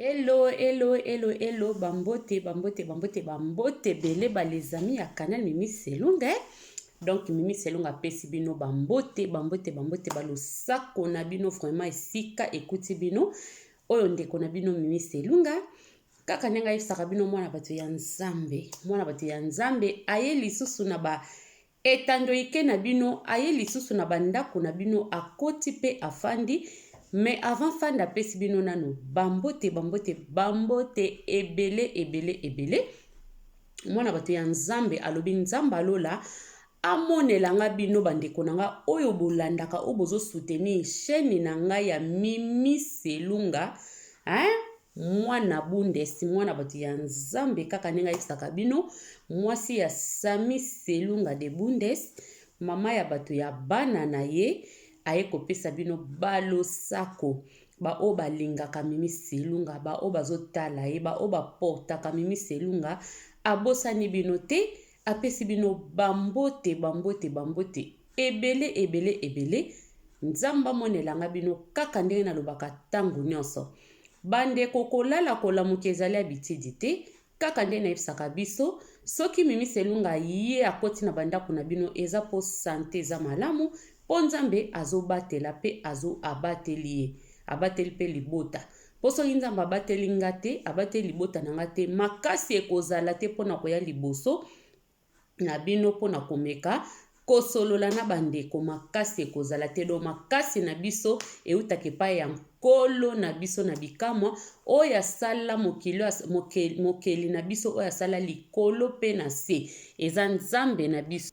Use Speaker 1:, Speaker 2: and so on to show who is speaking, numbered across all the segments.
Speaker 1: Hello, hello, hello, hello, bambote, bambote, bambote, bambote, ebele ba les amis ya canal Mimi Selunga. Eh? Donc Mimi Selunga apesi bino bambote, bambote, bambote, ba losako na bino vraiment esika ekuti bino. Oyo ndeko na bino Mimi Selunga. Kaka ndenge ayebisaka bino mwana bato ya Nzambe, mwana bato ya Nzambe aye lisusu na ba Etando ike na bino aye lisusu na ba ndako na bino akoti pe afandi mais avant fanda apesi bino nanu ba mbote ba mbote ba mbote ebele ebele ebele mwana bato ya nzambe alobi nzambe alola amonela nga bino bandeko na nga oyo bolandaka oyo bozosoutenir chaine na ngai ya mimi selunga hein? Mwana Bundes, mwana batu ya Nzambe kaka ndenge ayebisaka bino, mwasi ya Samy Selunga de Bundes, mama ya batu ya bana na ye, aye kopesa bino ba losako, ba oyo balingaka Mimi Selunga, ba oyo bazotala ye, ba oyo ba portaka Mimi Selunga, abosani bino te, Apesi bino bambote, bambote, bambote ebele, ebele, ebele. Nzambe amona elanga bino kaka ndenge nalobaka ntango nyonso. Bandeko, kolala kolamuka ezali abitidi te, kaka nde nayebisaka biso soki mimi selunga ye akoti na bandako na bino eza mpo sante eza malamu mpo nzambe azobatela mpe azo abateli ye abateli mpe libota Mpo soki Nzambe abateli nga te, abateli libota na nga te, makasi ekozala te mpo na koya liboso na bino mpo na komeka kosolola na bandeko makasi ekozala te do makasi na biso eutaka epai ya nkolo na biso na bikamwa oyo asala mokili mokeli na biso oyo asala likolo mpe na se eza nzambe na biso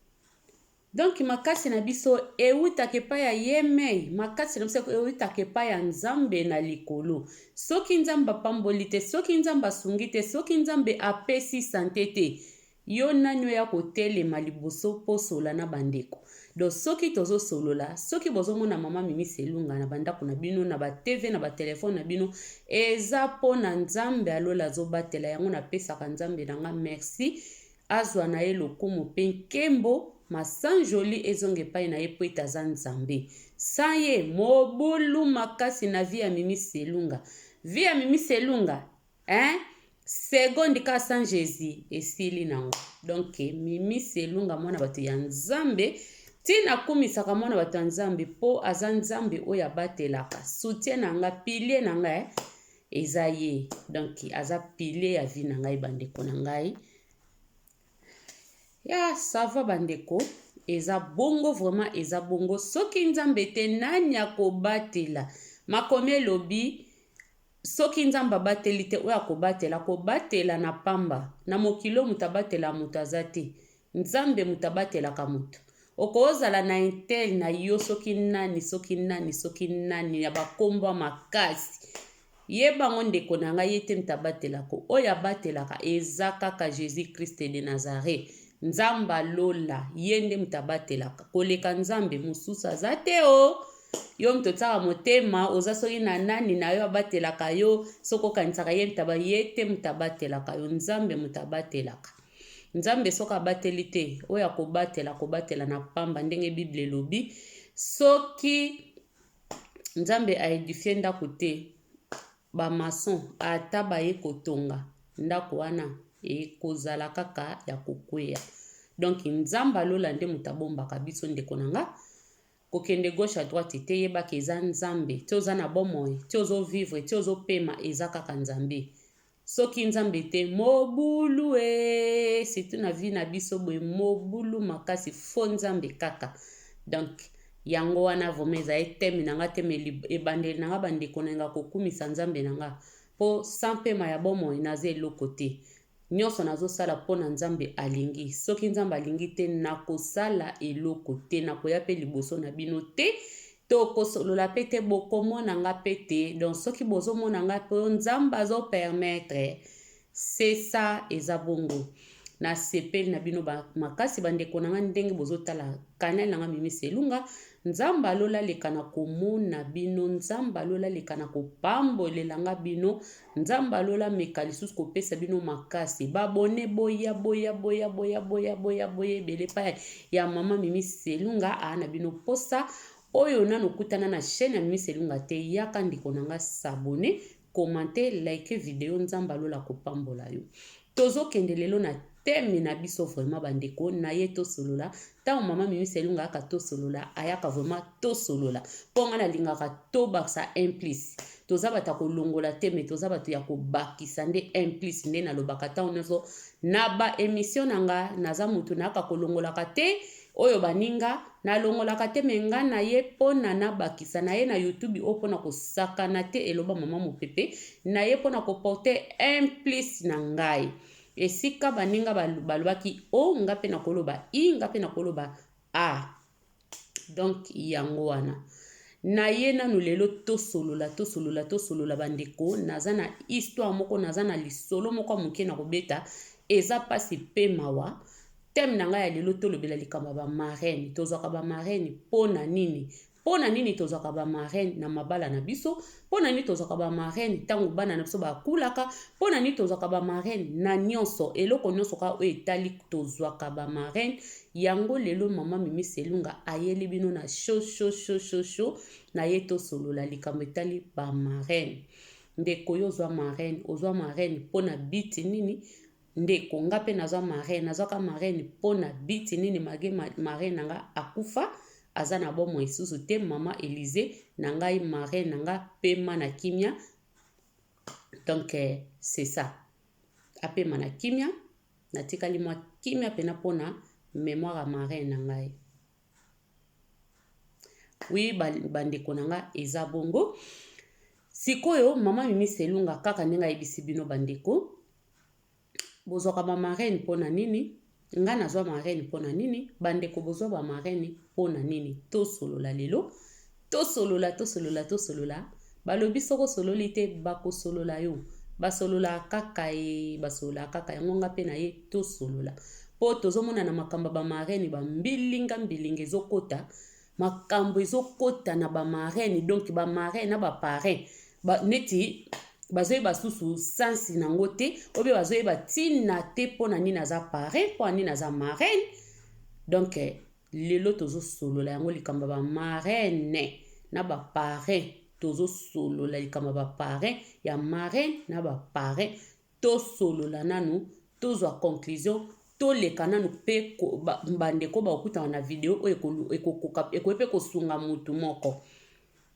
Speaker 1: Donc makasi na biso ewutaka epai ya yemei, makasi na biso ewutaka epai ya Nzambe na likolo. Soki Nzambe apamboli te, soki Nzambe asungi te, soki Nzambe apesi sante te, yo nani oya kotelema liboso mpo osola na bandeko? Donc soki tozo solola, soki bozo mona mama Mimi Selunga na bandako na bino, na ba TV, na ba telephone na bino, eza mpo na Nzambe ya lola azobatela yango napesaka Nzambe na nga merci. Azwa na ye lokumu mpe nkembo, masanjoli ezonga epai na ye mpo ete aza Nzambe. Sans ye, mobulu makasi na vie ya Mimi Selunga. Vie ya Mimi Selunga, hein? Seconde kaka sans Jesus, esili nango. Donc, Mimi Selunga mwana bato ya Nzambe, ti nakumisaka mwana bato ya Nzambe mpo aza Nzambe oyo abatelaka. Soutien na nga, pilier na nga, eh? eza ye donc aza pile ya vie na ngai bandeko na ngai ya sava bandeko eza bongo vraiment eza bongo soki nzambe te nani akobatela makomi elobi soki nzambe abateli te oyo akobatela kobatela na pamba na mokili oyo moto abatela moto aza te Nzambe moto abatelaka moto. Okozala na intel na yo soki nani soki nani soki nani ya bakombo makasi ye bango ndeko na ngai ye te moto abatelaka oyo abatelaka eza kaka jesus christ de nazareth nzambe lola ye nde moto abatelaka koleka nzambe mosusu aza te o oh. yo moto otyaka motema oza soki na nani na yo abatelaka yo soki okanisaka ye moto ye te moto abatelaka yo nzambe moto abatelaka Nzambe soki abateli te, oyo akobatela, akobatela na pamba, ndenge Biblia elobi. Soki Nzambe aedifie ndako te, bamason ata baye kotonga ndako wana ekozala kaka ya kokweya. Donc Nzambe alola nde moto abombaka biso, ndeko na nga kokende gauche à droite te, yebaka eza Nzambe, ti oza na bomoi, ti ozo vivre, ti ozo pema, eza kaka Nzambe. Soki nzambe te mobulu ee surtout na vie na biso boye mobulu makasi faux nzambe kaka donc yango wana vraimen ezali teme na nga te me ebandeli na nga bandeko na nga kokumisa nzambe na nga mpo sans pema ya bomoi naza eloko te nyonso nazosala mpo na nzambe alingi soki nzambe alingi te nakosala eloko te nakoya mpe liboso na bino te Toko solola pe te boko mona nga pe te donc soki bozo mona nga po nzambe azo permettre ce ça eza bongo na sepeli na bino ba makasi ba ndeko na nga ndenge bozo tala canal na nga mimi selunga nzambe alola leka na komona bino nzambe alola leka na kopambolela nga bino Nzambe ya lola ameka lisusu kopesa bino makasi babone boya boya boya boya boya boya boya ebele epai ya mama mimi selunga aa na bino mposa oyo nano okutana na chaîne ya mimi selunga te yaka ndeko na nga sabone commente like video nzambe alola kopambola yo Tozo kende lelo na theme na biso vraiment ba ndeko naye to solola tango maman mimi selunga ayaka to solola ayaka vraiment to solola po nga na lingaka to bakisa un plus toza bato ya kolongola te mais toza bato ya kobakisa nde un plus nde nalobaka tango nyonso na ba emission na nga naza moto nayaka kolongolaka te Oyo baninga, nalongolaka te mais nga naye pona nabakisa naye na youtube oyo pona kosakana te eloba maman mopepe, naye pona ko porter un plus na ngai. Esika baninga balobaki O, nga pe nakoloba I, nga pe nakoloba A. Donc yango wana. Naye nanu lelo tosolola, tosolola, tosolola bandeko, naza na histoire moko, naza na lisolo moko ya moke nakobeta, eza pasi pe mawa. Thème na ngai ya lelo tolobela likambo ya ba marraines. Tozwaka ba marraines mpo na nini? Mpo na nini tozwaka ba marraines na mabala na biso? Mpo na nini tozwaka ba marraines ntango bana na biso bakulaka? Mpo na nini tozwaka ba marraines na nyonso? Eloko nyonso kaka oyo etali tozwaka ba marraines yango lelo mama Mimi Selunga ayeli bino na show show show show show na ye tosolola likambo etali ba marraines. Ndeko yo ozwa marraine, ozwa marraine mpo na biti nini? Ndeko nga pe nazwa marraine nazwa ka marraine pona but nini malgre marraine nanga akufa aza na bomoi susu te maman Elise na ngai marraine nanga pema na kimia donc euh, c'est ça apema na kimia natikali mwa kimia pena pona memoire ya marraine na ngai wi bandeko na nga eza bongo sikoyo mama mimi selunga kaka ndenge ayebisi bino bandeko bozwaka ba marraine mpo na nini nga nazwa marraine mpo na nini bandeko bozwa ba marraine mpo na nini tosolola lelo tosolola tosolola tosolola balobi soko osololi te bakosolola yo basololaka kaka ye basololaka kaka yango nga mpe na ye tosolola mpo tozomona na makambo ya bamarene bambilinga mbilinga ezokota makambo ezokota na ba marraine donc ba marraine na ba parrain ba, neti bazoyeba susu sensi na yango te obe bazoyeba ntina te mpo na nini aza parrain mpo na nini aza marraine donc eh, lelo tozosolola yango likambo ya bamarraine na baparrain tozosolola likambo ya baparrain ya marraine na baparrain tosolola nanu tozwa conclusion toleka nanu pe bandeko bakokutana na video oyo ekokoka ekoki pe kosunga mutu moko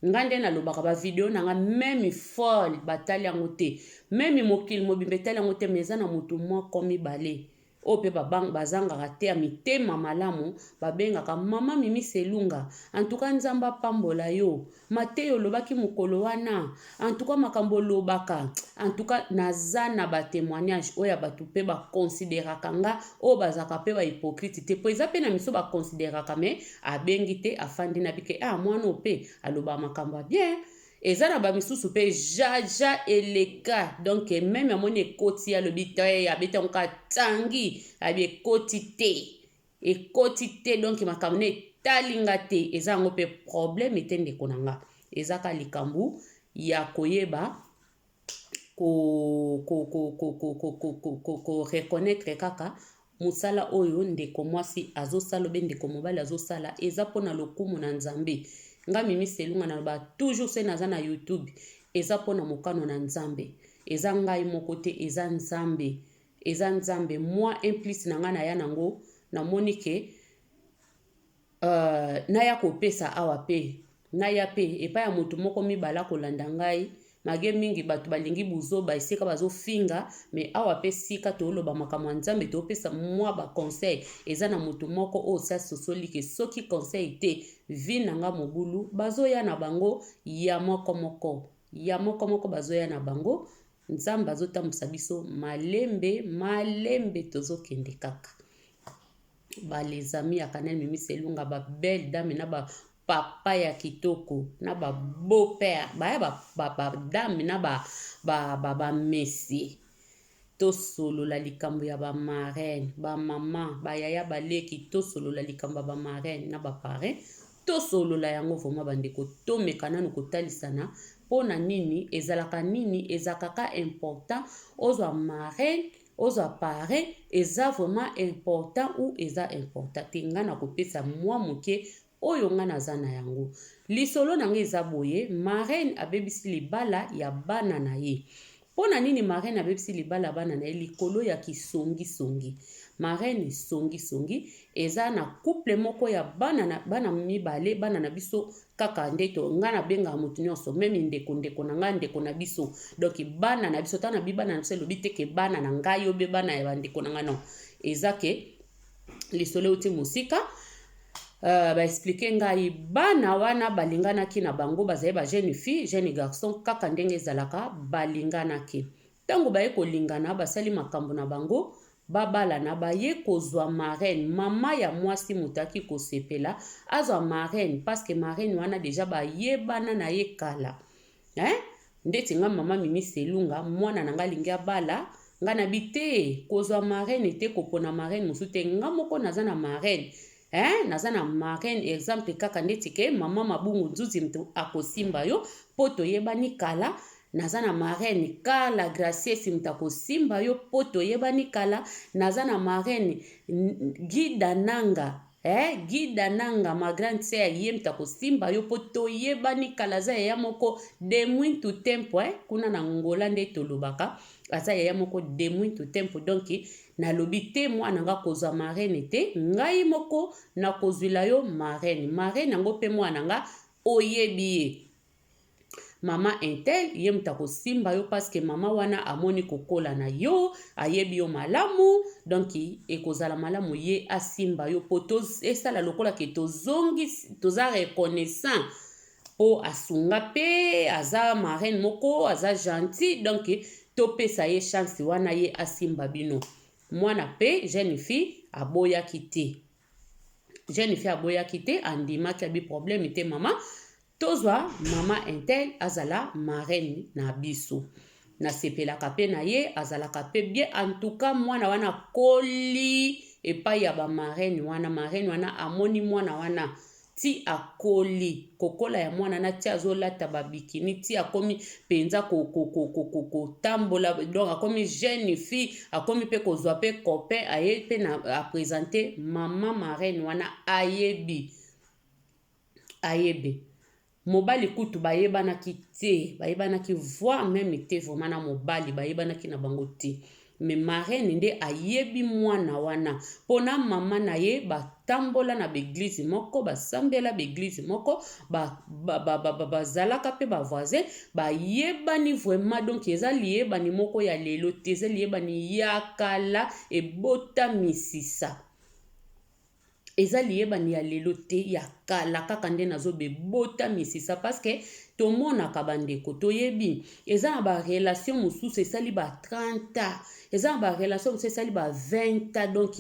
Speaker 1: nga nde nalobaka ba video na nga meme folle batali yango te meme mokili mobimba etali yango te mais eza na mutu moko mibale oyo pe ba bang bazangaka te ya mitema malamu ba bengaka maman mimi selunga en tout cas nzambe apambola yo mateya olobaki mukolo wana en tout cas makambo olobaka en tout cas naza na ba temoignage oyo ya batu pe ba consideraka nga oyo bazalaka pe ba hypocrite te po eza pe na miso ba consideraka mais abengi te afandi na bike ah mwana oyo pe alobaka makambo ya bien Eza na ba misusu pe jaja eleka donc meme amoni ekoti alobi te abeti yango ka tangi abi ekoti te ekoti te donc makambo na etali nga te eza yango pe probleme te ndeko na nga eza ka likambo ya koyeba ko, ko, ko, ko, ko, ko, ko, ko, ko, ko reconnaitre kaka mosala oyo ndeko mwasi azosala obe ndeko mobali azosala eza mpo na lokumu na nzambe nga mimi selunga naloba toujours se naza na youtube eza mpo na mokano na nzambe eza ngai moko te eza nzambe eza nzambe mwa implice na ngai naya nango namoni ke Uh, naya kopesa awa pe naya pe epai ya moto moko mibala kolanda ngai mage mingi bato balingi buzoba esika bazofinga me awa pe sika tooloba makambo ya nzambe toopesa mwa baconseil eza na moto moko oyo si asosoli ke soki conseil te vi na nga mobulu bazoya na bango ya moko moko ya moko moko bazoya na bango nzambe azotambwisa biso malembe malembe tozokende kaka ba les amis ya Canel Mimi Selunga ba belle dame na ba papa ya kitoko na ba beau père baya ba, ba, ba dame na ba, ba, ba, ba messie tosolola likambo ya ba marraine ba mama ba yaya baleki tosolola likambo ya ba marraine na ba parrain tosolola yango vraimen bandeko tomeka nanu kotalisana mpo na nini ezalaka nini ezalaka ka important ozwa marraine Ozwa pare eza vraiment important ou eza important te nga na kopesa mwa moke oyo nga naza na yango lisolo na nga eza boye marraine abebisi libala ya bana na ye mpo na nini marraine abebisi libala ya bana na ye likolo ya kisongisongi marraine songisongi eza na couple moko ya bana, na, bana mibale bana na biso kaka nde to nga na benga mutu nionso meme ndeko ndeko na nga ndeko na biso donc bana na biso ta na bi bana na biso elobi te ke bana na ngai yo be bana ya ba ndeko na nga non eza ke lisolo euti mosika Euh, baexplike ngai bana wana balinganaki na bango bazali ba jeune fille jeune garçon kaka ndenge ezalaka balinganaki Tango baye kolingana basali makambo na bango babalana baye kozwa marraine maman ya mwasi moto aki kosepela azwa marraine parce que marraine wana deja bayebana na ye kala hein? ndeti nga mama mimi selunga mwana na nga alingi abala nga na bi te kozwa marraine te kopona marraine mosusu te nga moko naza na marraine Hein, naza na marraine exemple kaka ndeti ke mama mabungu nzuzi mtu akosimba yo po toyebani kala naza na marraine kala graciesi moto akosimba yo mpo toyebani kala naza na marraine gida nanga eh, gida nanga ma grande sœur ye moto akosimba yo mpo toyebani kala aza yaya moko de muito tempo eh, kuna na ngola nde tolobaka aza yaya moko de muito tempo donk Nalobi te mwana nga kozwa marraine te ngai moko nakozwila yo marraine marraine yango mpe mwana nga oyebi ye mama intel ye moto akosimba yo paske mama wana amoni kokola na yo ayebi yo malamu donk ekozala malamu ye asimba yo mpo esala lokola ke tozongi toza reconnaissant po asunga pe aza marraine moko aza gentil donc topesa ye chance wana ye asimba bino mwana pe jeune fille aboyaki te jeune fille aboyaki te andimaki abi problème te mama tozwa mama intel azala marraine na biso nasepelaka mpe na ye azalaka mpe bien antuka mwana wana akoli epai ya bamarene wana marene wana amoni mwana wana ti akoli kokola ya mwana na ti azolata ba bikini ti akomi penza ko ko ko ko ko ko tambola donc akomi jeune fille akomi pe kozwa pe copain aye pe na a presenter maman marraine wana ayebi ayebe Mobali kutu bayebanaki te, bayebanaki voir meme te vraiment na mobali bayebanaki na bango te. Mais marraine nde ayebi mwana wana mpo na mama na ye batambola na baeglize moko basambela baeglize moko bazalaka mpe bavoisin bayebani vraiment donk eza liyebani moko ya lelo te eza liyebani ya kala ebota misisa eza liyebani ya lelo te ya kala kaka nde nazo bebota misisa parce que tomonaka bandeko toyebi eza na ba relation mosusu esali ba 30 ans eza na ba relation mosusu esali ba 20 ans donc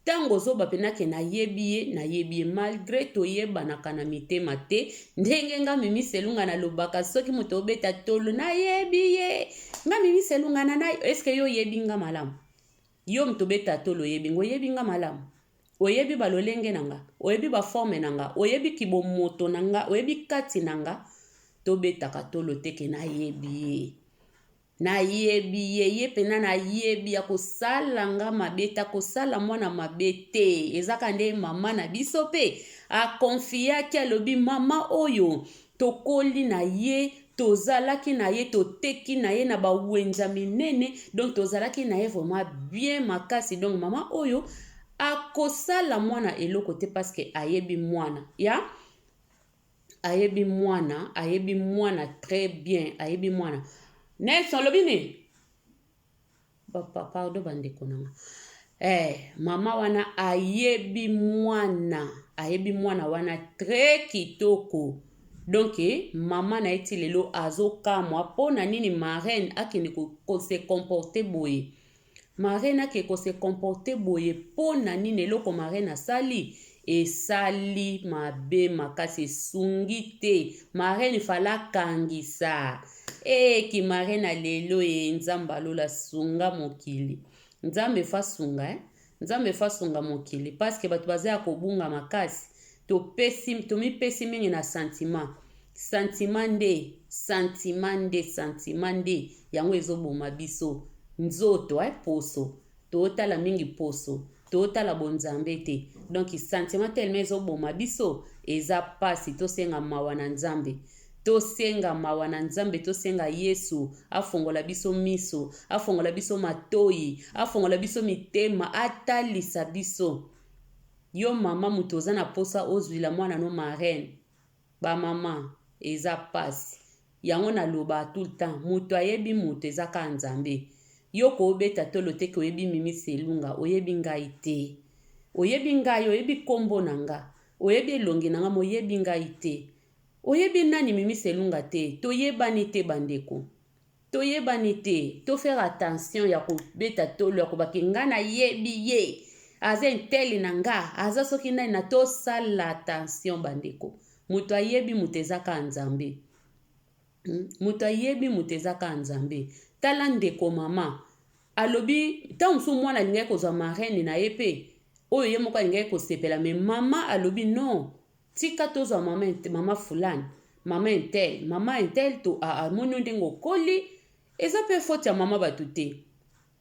Speaker 1: ntango ozoba mpena ke nayebi ye nayebi ye malgre toyebanaka na mitema te ndenge nga mimi selunga nalobaka soki moto obeta tolo nayebi ye nga mimi selunga na nayo eske yo oyebi nga malamu Yo moto obeta tolo oyebi nga, oyebi nga malamu, oyebi ba lolenge na nga, oyebi ba forme na nga, oyebi ki bo moto na nga, oyebi kati na nga, to betaka tolo te ke na yebi ye. Na yebi ye, ye pena na yebi ya kosala nga mabe te, akosala mwana mabe te. Ezaka nde mama na biso pe a confiaki alobi mama oyo Tokoli na ye, tozalaki na ye, toteki na ye na ba wenza minene donc tozalaki na ye vraiment bien makasi donc maman oyo akosala mwana eloko te parce que ayebi mwana ya yeah? ayebi mwana ayebi mwana très bien ayebi mwana nelson olobi nini Papa, pardon bandeko na nga. Eh, mama wana ayebi mwana, ayebi mwana wana très kitoko. Donc eh, mama na ye ti lelo azokamwa mpo na nini marraine akende ko, ko se comporter boye. Marraine ake ko se comporter boye mpo na nini eloko marraine asali Esali mabe makasi esungi te marraine fala akangisa ee eh, ki marraine ya lelo ee eh, nzambe alola sunga mokili nzambe fasunga eh? nzambe fasunga mokili paske bato baza ya kobunga makasi topesi tomipesi mingi na sentiment sentiment nde sentiment nde sentiment nde yango ezoboma biso nzoto eh, poso Totala mingi poso totala bonzambe te donc sentiment tellement ezo boma biso eza pasi tosenga mawa na nzambe tosenga mawa na nzambe tosenga yesu afongola biso miso afongola biso matoyi afongola biso mitema atalisa biso yo mama moto oza na posa ozwila mwana no marraine Ba maman eza pasi. Yango na loba tout le temps mutu ayebi mutu eza kaka nzambe yo oko obeta tolo te ke oyebi mimi selunga oyebi ngai te oyebi ngai oyebi kombo na nga oyebi elongi na nga mais oyebi ngai te oyebi nani mimi selunga te toyebani te ba ndeko To yebani te, to faire attention ya ko beta tolo ya ko ba ke nga na yebi ye, aza intel na nga, aza soki nani na to sala attention ba ndeko. Moto ayebi moto eza ka Nzambe. Hmm? Moto ayebi moto eza ka Nzambe. Tala ndeko mama, alobi ntango mosusu mwana alingaki kozwa marraine na ye mpe oyo ye moko alingaki kosepela me mama alobi non Tika tozwa mama int- mama fulani, mama intel, mama intel to a- amoni yo ndenge okoli. Eza mpe faute ya mama bato te,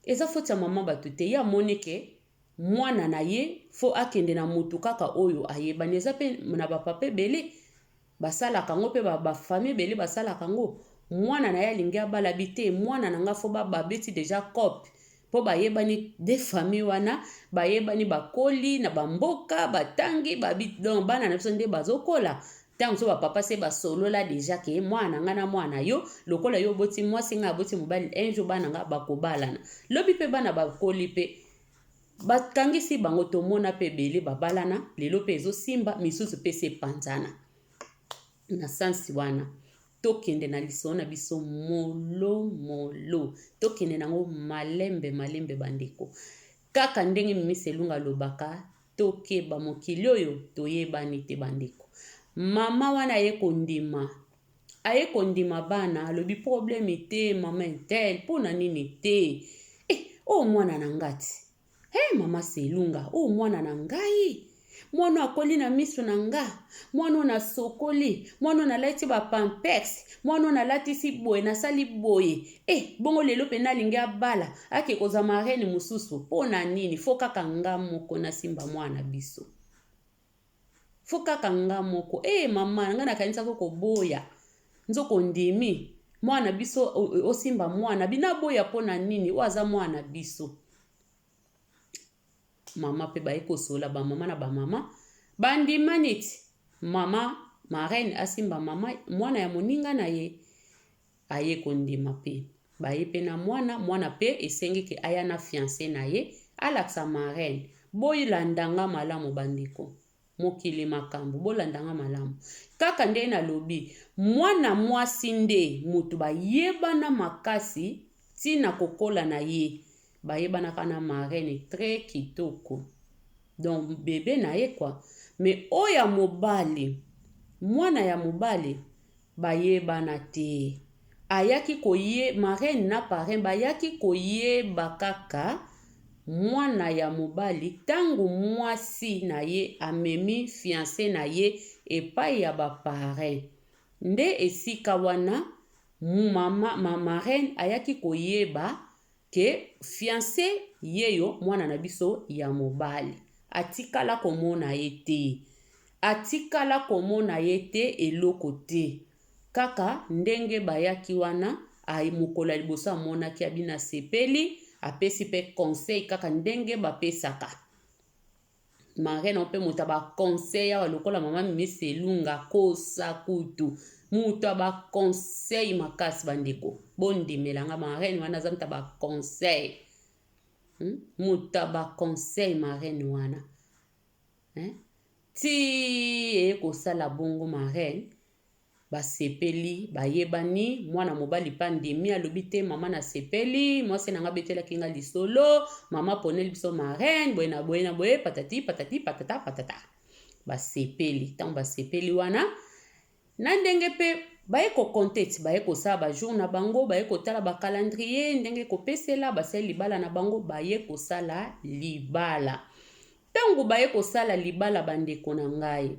Speaker 1: eza faute ya mama bato te. Ye amoni ke mwana na ye fo akende na motu kaka oyo ayebani. Eza mpe na ba papa ebele basalaka yango, mpe ba, ba famille ebele basalaka yango. Mwana na ye alingi abala bi te, mwana na nga fo ba, babeti deja cope, po bayebani de famille wana bayebani bakoli na bamboka batangi babi donc bana na biso nde bazokola ntango so bapapa se basolola deja ke mwana na ngai na mwana na yo lokola yo oboti mwasi ngai aboti mobali un jour bana ngai bakobalana lobi mpe bana bakoli mpe bakangisi bango tomona mpe ebele babalana lelo mpe ezosimba misusu mpe se epanzana na sansi wana Tokende na lisolo na biso molo molo, tokende na yango malembe malembe bandeko. Kaka ndenge Mimis Elunga alobaka, tokeba mokili oyo toyebani te bandeko. Mama wana aye kondima aye kondima bana alobi probleme te mama intel mpo na nini te eh, oyo oh, mwana na ngati He mama Selunga, oyo mwana na ngai mwana oyo akoli na miso na nga mwana oyo nasokoli mwana oyo nalati bapampex mwana oyo nalatisi boye nasali boye e bongo lelo mpe nalingi abala ake kozwa marene mosusu mpo na nini fo kaka nga moko nasimba mwana na biso faut kaka nga moko eh mama nga nakanisaki okoboya nzoka ondimi mwana na biso osimba mwana bina boya mpo na nini oyo aza mwana na biso mama mpe baye kosola bamama na bamama bandima neti mama marraine asimba mama mwana ya moninga na ye Aye kondima mpe baye mpe na mwana, mwana mpe esengeke aya na fiance na ye alakisa marraine. Boylanda nga malamu ba ndeko. Mokili makambu. Bolanda nga malamu. Kaka ndenge na lobi, mwana mwasi nde mutu ba yebana makasi ti na ko kola na ye. Ba yebanaka na marraine tres kitoko. Donc bebe na ye quoi. Mais oyo ya mobali, mwana ya mobali Bayebana te. Ayaki koye, marraine na parrain bayaki koyeba kaka mwana ya mobali tango mwasi na ye amemi fiance na ye epai ya ba parrain. Nde esika wana mama, ma marraine ayaki koyeba que fiance yeyo mwana na biso ya mobali atikala komona ye te atikala komona ye te eloko te kaka ndenge bayaki wana aye mokolo ya liboso amonaki abina sepeli apesi pe conseil kaka ndenge bapesaka Marraine oyo mpe moto ya baconseil awa lokola mama mimisi elunga kosa kutu moto ya baconseil makasi bandeko bondimela nga marraine wana aza moto ya baconseil hmm? moto ya baconseil marraine wana eh? ti eye kosala bongo marraine Basepeli, bayebani. Mwana mobali pe andimi, alobi te, Mama, nasepeli. Mwasi na ngai abetelaki ngai lisolo. Mama aponeli biso marraine, boye na boye na boye, patati patati patata patata. Basepeli. Ntango basepeli wana, na ndenge pe baye kokonte ti baye kosala bajour na bango, baye kotala bakalandrie, ndenge kopesela, basali libala na bango, baye kosala libala. Ntango baye kosala libala, bandeko na ngai,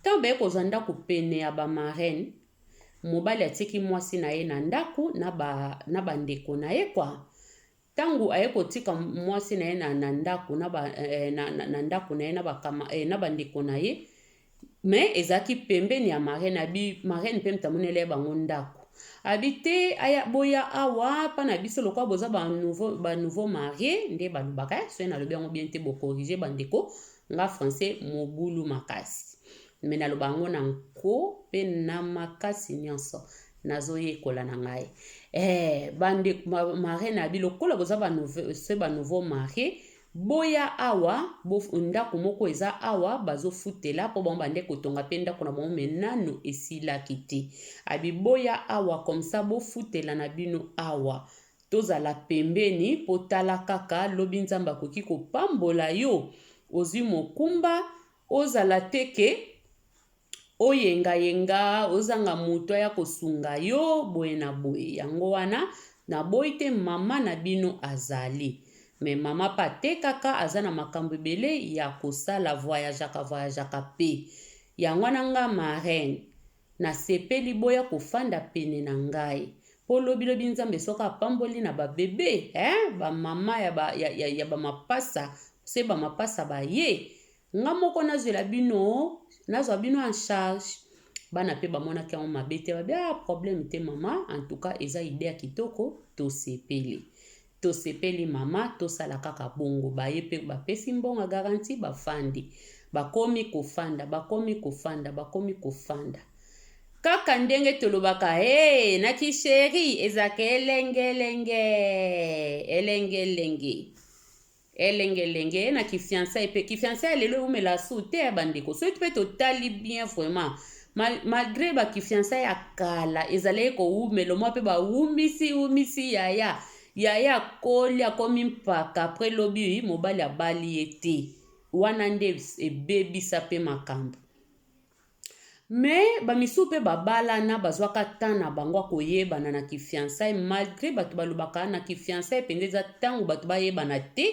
Speaker 1: Ntango bayei kozwa ndako pene ya ba marraines, mobali atiaki mwasi na ye na ndako na ba na ba ndeko na ye kwa. Ntango aye kotika mwasi na ye na, na ndako na ba eh, na, na, na ndako na ye na ba kama, eh, na ba ndeko na ye me ezalaki pembeni ya marraine abi marraine mpe mtamonela ye bango ndako abi te aya boya awa mpa na biso lokola boza ba nouveau, ba nouveau marie nde balobaka eh, soki nalobi yango bien te bokorige bandeko Nga français mobulu makasi mais naloba yango na nko pe na makasi nionso nazo yekola na ngai eh bande marie na bi lokola boza ba se ba nouveau marie boya awa bo ndako moko eza awa bazofutela mpo bango bande kotonga mpe ndako na bango me nano esilaki te abi boya awa komsa bofutela na bino awa Tozala pembeni po tala kaka lobi nzambe akoki kopambola yo ozui mokumba ozala te ke oyenga yenga ozanga mutu aya kosunga yo boye na boye yango wana naboyi te mama na bino azali me mama pe atekaka aza na makambo ebele ya kosala voyajaka voyajaka pe yango wana nga marraine Na sepeli boya kofanda pene na ngai. Po lobi lobi nzambe soki apamboli na ba bebe eeh ba maman ya ba ya ya ya ba mapasa se ba mapasa baye nga moko nazwela bino nazwa bino en charge bana pe bamonaki yango mabe te babi ah problème te maman en tout cas eza idee ya kitoko tosepeli Tosepeli mama tosala kaka bongo baye pe bapesi mbonga garantie bafandi bakomi kofanda bakomi kofanda bakomi kofanda kaka ndenge tolobaka hee na ki cherie ezaka elengelengee elengelengee. Elengelenge na ki fiançailles pe ki fiançailles ya lelo ewumela sou te ba ndeko soki pe totali bien vraiment mal, malgre ba ki fiançailles ya kala ezalaki kowumela omwa pe bawumisi wumisi yaya yaya akoli akomi mpaka après lobi mobali abali ye te wana nde ebebisa pe makambo Mais ba misusu pe ba balana bazuaka temps na bango ya koyebana na ki fiançailles malgre batu balobaka na ki fiançailles penza eza tango batu bayebana te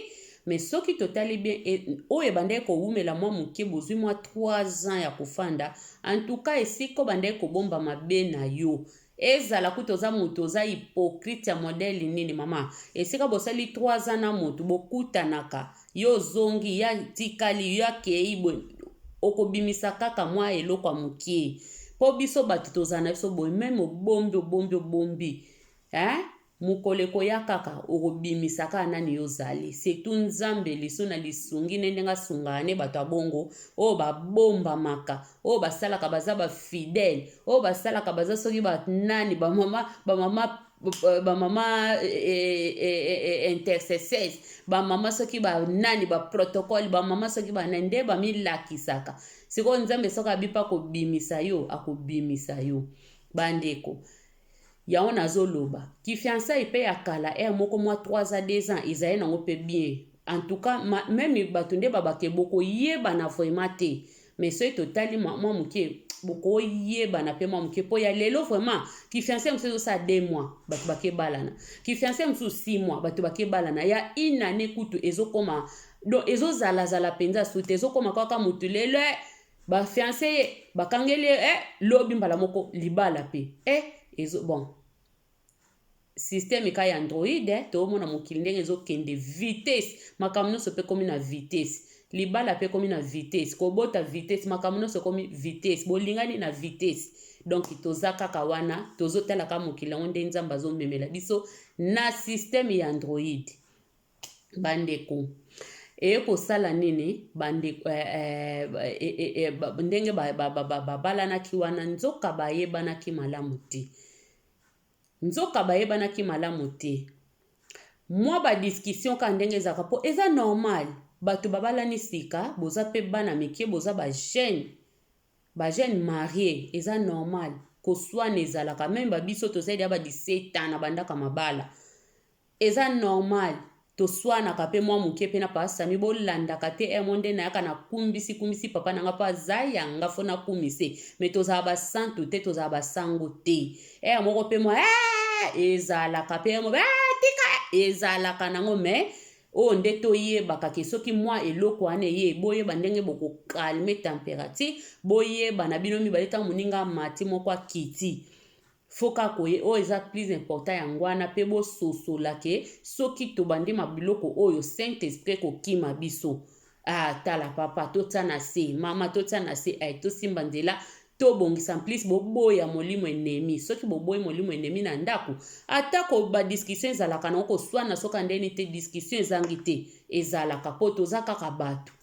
Speaker 1: mais soki totali bien e, oyo ebandaki kowumela mwa moke bozui mwa 3 ans ya kofanda en tout cas esika obandaki kobomba mabe na yo Ezala kutu oza mutu oza hypocrite ya modèle nini maman esika bosali 3 ans na mutu bokutanaka yo ozongi ya tikali yo akei bwe okobimisa kaka mwa eloko ya mokie po biso bato tozala na biso boye meme obombi obombi obombi eh? Mokolo ekoya kaka okobimisa kaka nani yo ozali surtout nzambe lisu na lisungi ne ndenge asungaka ne bato ya bongo oyo babombamaka oyo basalaka baza ba fidèle oyo basalaka baza soki ba nani ba mama ba mama ba mama intercesseurs ba mama soki ba nani ba protocole ba mama soki ba nani nde bamilakisaka sikoyo nzambe soki abipa kobimisa yo akobimisa yo bandeko Yango nazo loba. Ki fiançailles pe ya kala heure moko mua trois ans, deux ans ezali nango pe bien. En tout cas ma meme batu nde ba bake boko yebana vraiment te. Mais soki to tali mua mua muke boko yebana pe mua muke po ya lelo vraiment ki fiançailles mosusu ezo sala deux mois batu bake balana. Ki fiançailles mosusu six mois batu bake balana. Ya une annee kutu ezo koma donc ezo zala zala penza sous te ezo koma kaka mutu lelo eh Ba fiancer ye, bakangeli ye eh lobi mbala moko libala pe eh ezo bon systeme ka ya android eh, toomona mokili ndenge ezokende vitesse makambo nyonso mpe ekomi na vitesse libala mpe ekomi na vitesse kobota vitesse makambo nyonso ekomi vitesse bolingani na vitesse donc toza kaka wana tozotalaka mokili yango nde nzambe azomemela biso na systeme ya android bandeko eye kosala nini bandeko eh, eh, eh, eh, eh, ba- ndenge babalanaki ba, ba, ba, babalanaki wana nzoka bayebanaki malamu te nzoka bayebanaki malamu te mwa badiskussion kaka ndenge ezalaka mpo eza normal bato babalani sika boza mpe bana mike boza bajeune bajeune marie eza normal koswana ezalaka meme babiso tozali ya ba 17 ans na bandaka mabala Eza normal toswanaka pe mwa muke pe na papa Samy bolandaka te heure moko nde nayaka na kumbisi kumbisi papa na nga po aza ya nga faut na kumise mais tozala ba santu te tozala ba sango te heure moko pe mwa eeh ezalaka pe heure moko eeh tika ezalaka nango mais oyo nde toyebaka ke soki mwa eloko wana eye boyeba ndenge boko calme temperature boyeba na bino mibale ntango moninga amati moko akiti Faut kaka koye oyo eza plus important yanguana pe bo sosola ke soki tobandi ma biloko oyo saint esprit eko kima biso ah tala papa to tia na se mama to tia na se eh to simba nzela to bongisa en plus bo boya molimo enemi soki bo boyi molimo enemi na ndaku ata ko ba discussion ezalaka na ko suana soka ndeni te discussion ezangi te ezalaka po toza kaka batu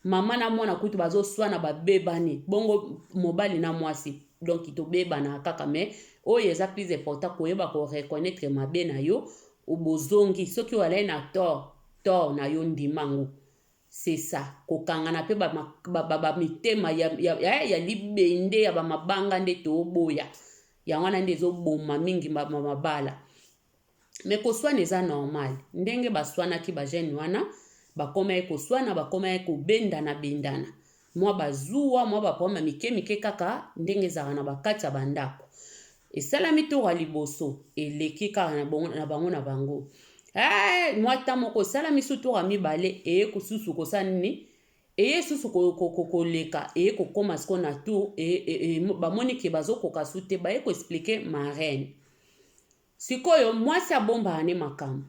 Speaker 1: Maman na mwana kutu bazo swana ba bebani bongo mobali na mwasi donc tobebana kaka mais oyo eza plus important koyeba ko reconnaître mabe na yo bozongi soki olai na tort tort na yo ndima ngo c'est ça kokangana pe ba, ba, ba, ba mitema ya, ya, ya, ya libende ya bamabanga nde toboya yango wana nde ezoboma mingi mabala Mais koswana eza normal ndenge baswanaki ba jeune wana bakomaki koswana bakomaki kobendana bendana mwa bazuwa mwa baproblème mike mike kaka ndenge ezalaka na bakati ya bandako esalami tour ya liboso eleki kaka na bango na bango, na bango. Hey, mwa ta moko esalami su tour ya mibale eye kosusu kosala nini eye susu koleka eye kokoma siko na tour e, e, e, bamoni ke bazokoka su te baye koexplike marraine Sikoyo mwasi abombaka ne makambo.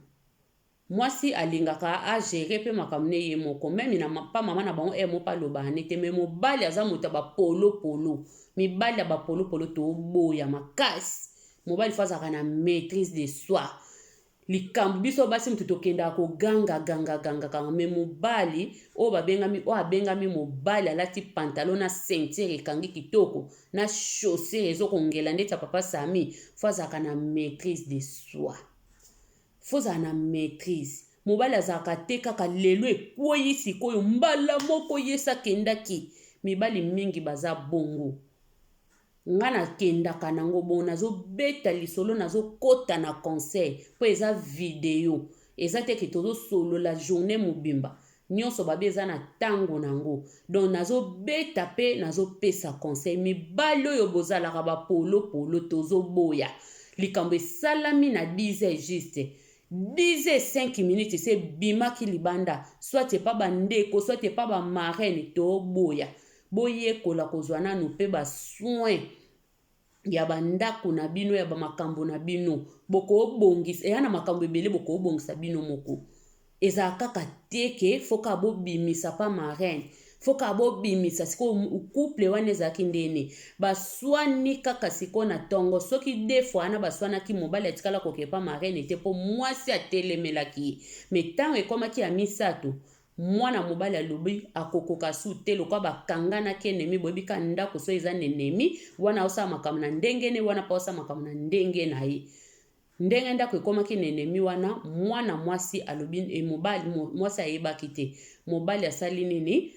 Speaker 1: Mwasi alingaka a gerer pe makambo ne ye moko. Meme na pa mama na bango heure moko pe alobaka ne te mais mobali aza moto ya ba polo polo. Mibali ya ba polo polo toboya makasi. Mobali faut azalaka na maitrise de soi. Likambo biso basi moto tokendaka ko ganga ganga ganga ganga mais mobali oyo babengami oyo abengami mobali alati pantalon na ceinture ekangi kitoko na chaussure ezo kongela ndeti ya papa sami fo azalaka na maîtrise de soi fo ozala na maîtrise mobali azalaka te kaka lelo ekwei sikoyo mbala moko yesi akendaki mibali mingi baza bongo nga nakendaka nango bongo nazobeta lisolo nazokota na conseil mpo eza video eza te ke tozosolola journée mobimba Nionso babi eza na tango na ngo donc nazo beta pe nazo pesa conseil mibali oyo bozalaka ba polo polo tozo boya likambo esalami na disait juste disait cinq minutes se bimaki libanda soit epa ba ndeko soit epa ba marraine to boya boyekola kozua nanu pe ba soins ya bandako na bino ya bamakambo na bino bokobongisa eya na makambo ebele bokobongisa bino moko ezala kaka te ke fo kaka bobimisa pa marraine fo kaka bobimisa sikoyo couple wana ezalaki ndene baswani kaka sikoyo na ntongo soki de fois wana baswanaki mobali atikala kokee pa marraine te mpo mwasi atelemelaki ye me ntango ekomaki ya misato Mwana mobali alobi akokoka su te lokola ba kanga na ki enemi boyebi ka ndaku soki eza na enemi wana osala makambo na ndenge ne wana pe osala makambo na ndenge na ye ndenge ndaku ekomaki na enemi wana mwana mwasi alobi e mobali mwasi ayebaki te mobali asali nini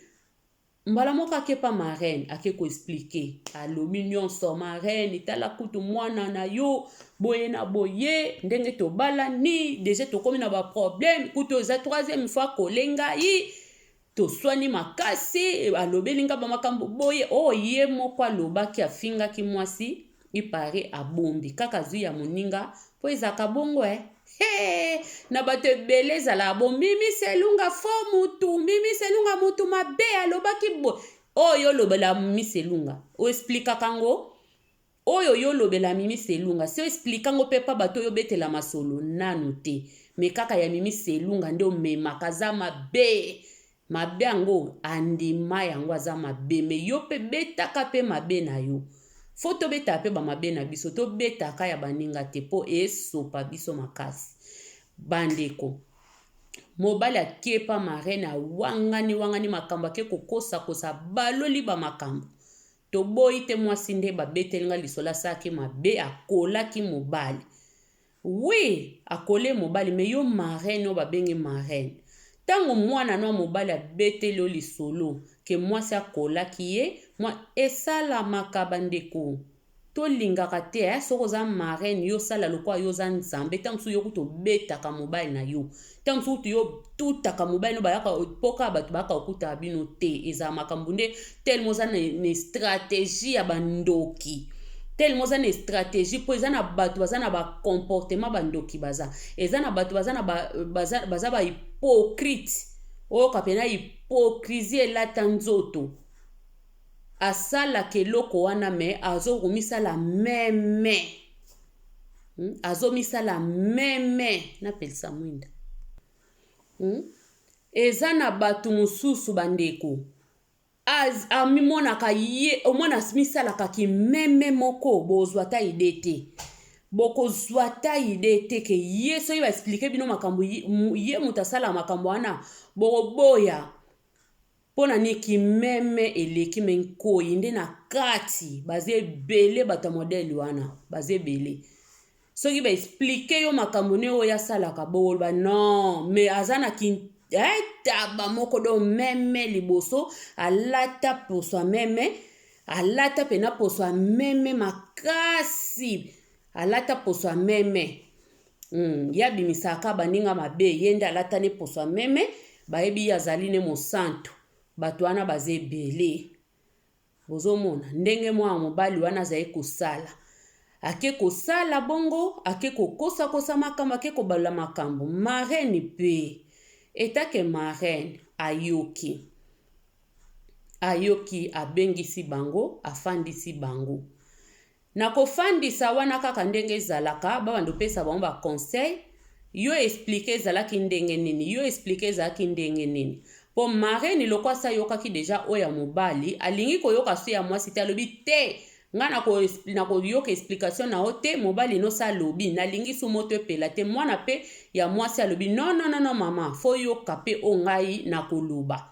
Speaker 1: Mbala moko ake pa marraine ake ko expliquer, alobi nyonso marraine, tala kutu mwana na yo boye na boye, ndenge tobalani deja tokomi na ba problème, kutu eza troisième fois akole ngai toswani makasi, alobeli ngai ba makambo boye oyo oh, ye moko alobaki afingaki mwasi Il parait abombi kaka azui ya moninga po ezalaka bongo eh. Hey, na bato ebele ezalaka bo mimi selunga fo mutu mimi selunga mutu mabe alobaki bo oyo olobela mimi selunga oesplikaka ngo oyo yo olobela mimi selunga si oesplika ngo mpe pa bato oyo obetela masolo nanu te me kaka ya mimi selunga nde omemaka aza mabe Mabe yango andima yango aza mabe mais yo pe betaka pe mabe na yo faut tobetaka pe ba mabe na biso tobetaka ya baninga te po esopa biso makasi bandeko mobali akepa marraine awangani wangani makambo ake kokosa kosa baloli ba makambo toboyi te mwasi nde babeteli nga lisolo asalaki mabe akolaki mobali Oui akole mobali mais yo maraine oyo babenge maraine tango mwana no ya mobali abeteli yo lisolo ke mwasi akolaki ye mwa esalamaka bandeko tolingaka te eh soki oza maraine yo sala lokola yo oza nzambe tango mosusu yo kutu obetaka mobali na yo ntango mosusu kutu yo tutaka mobali no bayaka mpoka ya bato bayaka kokutaka bino te ezala makambo nde telema oza na stratégie ya bandoki telema oza na stratégie mpo eza na bato baza na bacomportement bandoki baza eza na bato baza na baza, baza bahypocrite oyoka mpena hypocrisie elata nzoto asalaka eloko wana me azokomisala meme hmm? azomisala meme napelisa mwinda hmm? eza na bato mosusu bandeko amimonaka ye omona misalaka kimeme moko bozwa ata ide te bokozwa ata ide te ke ye soki baexplike bino makambo ye moto asala makambo wana bokoboya Pona nini ki meme eleki mais nkoyi nde na kati baza ebele bato ya modèle wana baza ebele soki ba explique yo makambo ne oyo asalaka bokoloba non mais aza na ki eh, taba moko do meme liboso alata poso ya meme alata pena poso ya meme makasi alata poso ya meme Hum ye abimisaka baninga mabe ye nde alata ne poso ya meme bayebi ye azali ne mosantu bato wana baza ebele bozomona ndenge mwana mobali wana azali kosala ake kosala bongo ake kokosakosa makambo ake kobalola makambo marraine mpe etake marraine ayoki ayoki abengisi bango afandisi bango Na kofandisa wana kaka ndenge ezalaka ba banda opesa bango ba conseil yo explique ezalaki ndenge nini yo explique ezalaki ndenge nini po marraine lokwasi ayokaki deja oyo ya mobali alingi koyoka so ya mwasi te alobi te nga nakoyoka explication na yo te mobali nosi alobi nalingi su moto epela te mwana pe ya mwasi alobi nononono mama foyoka pe o ngai nakoloba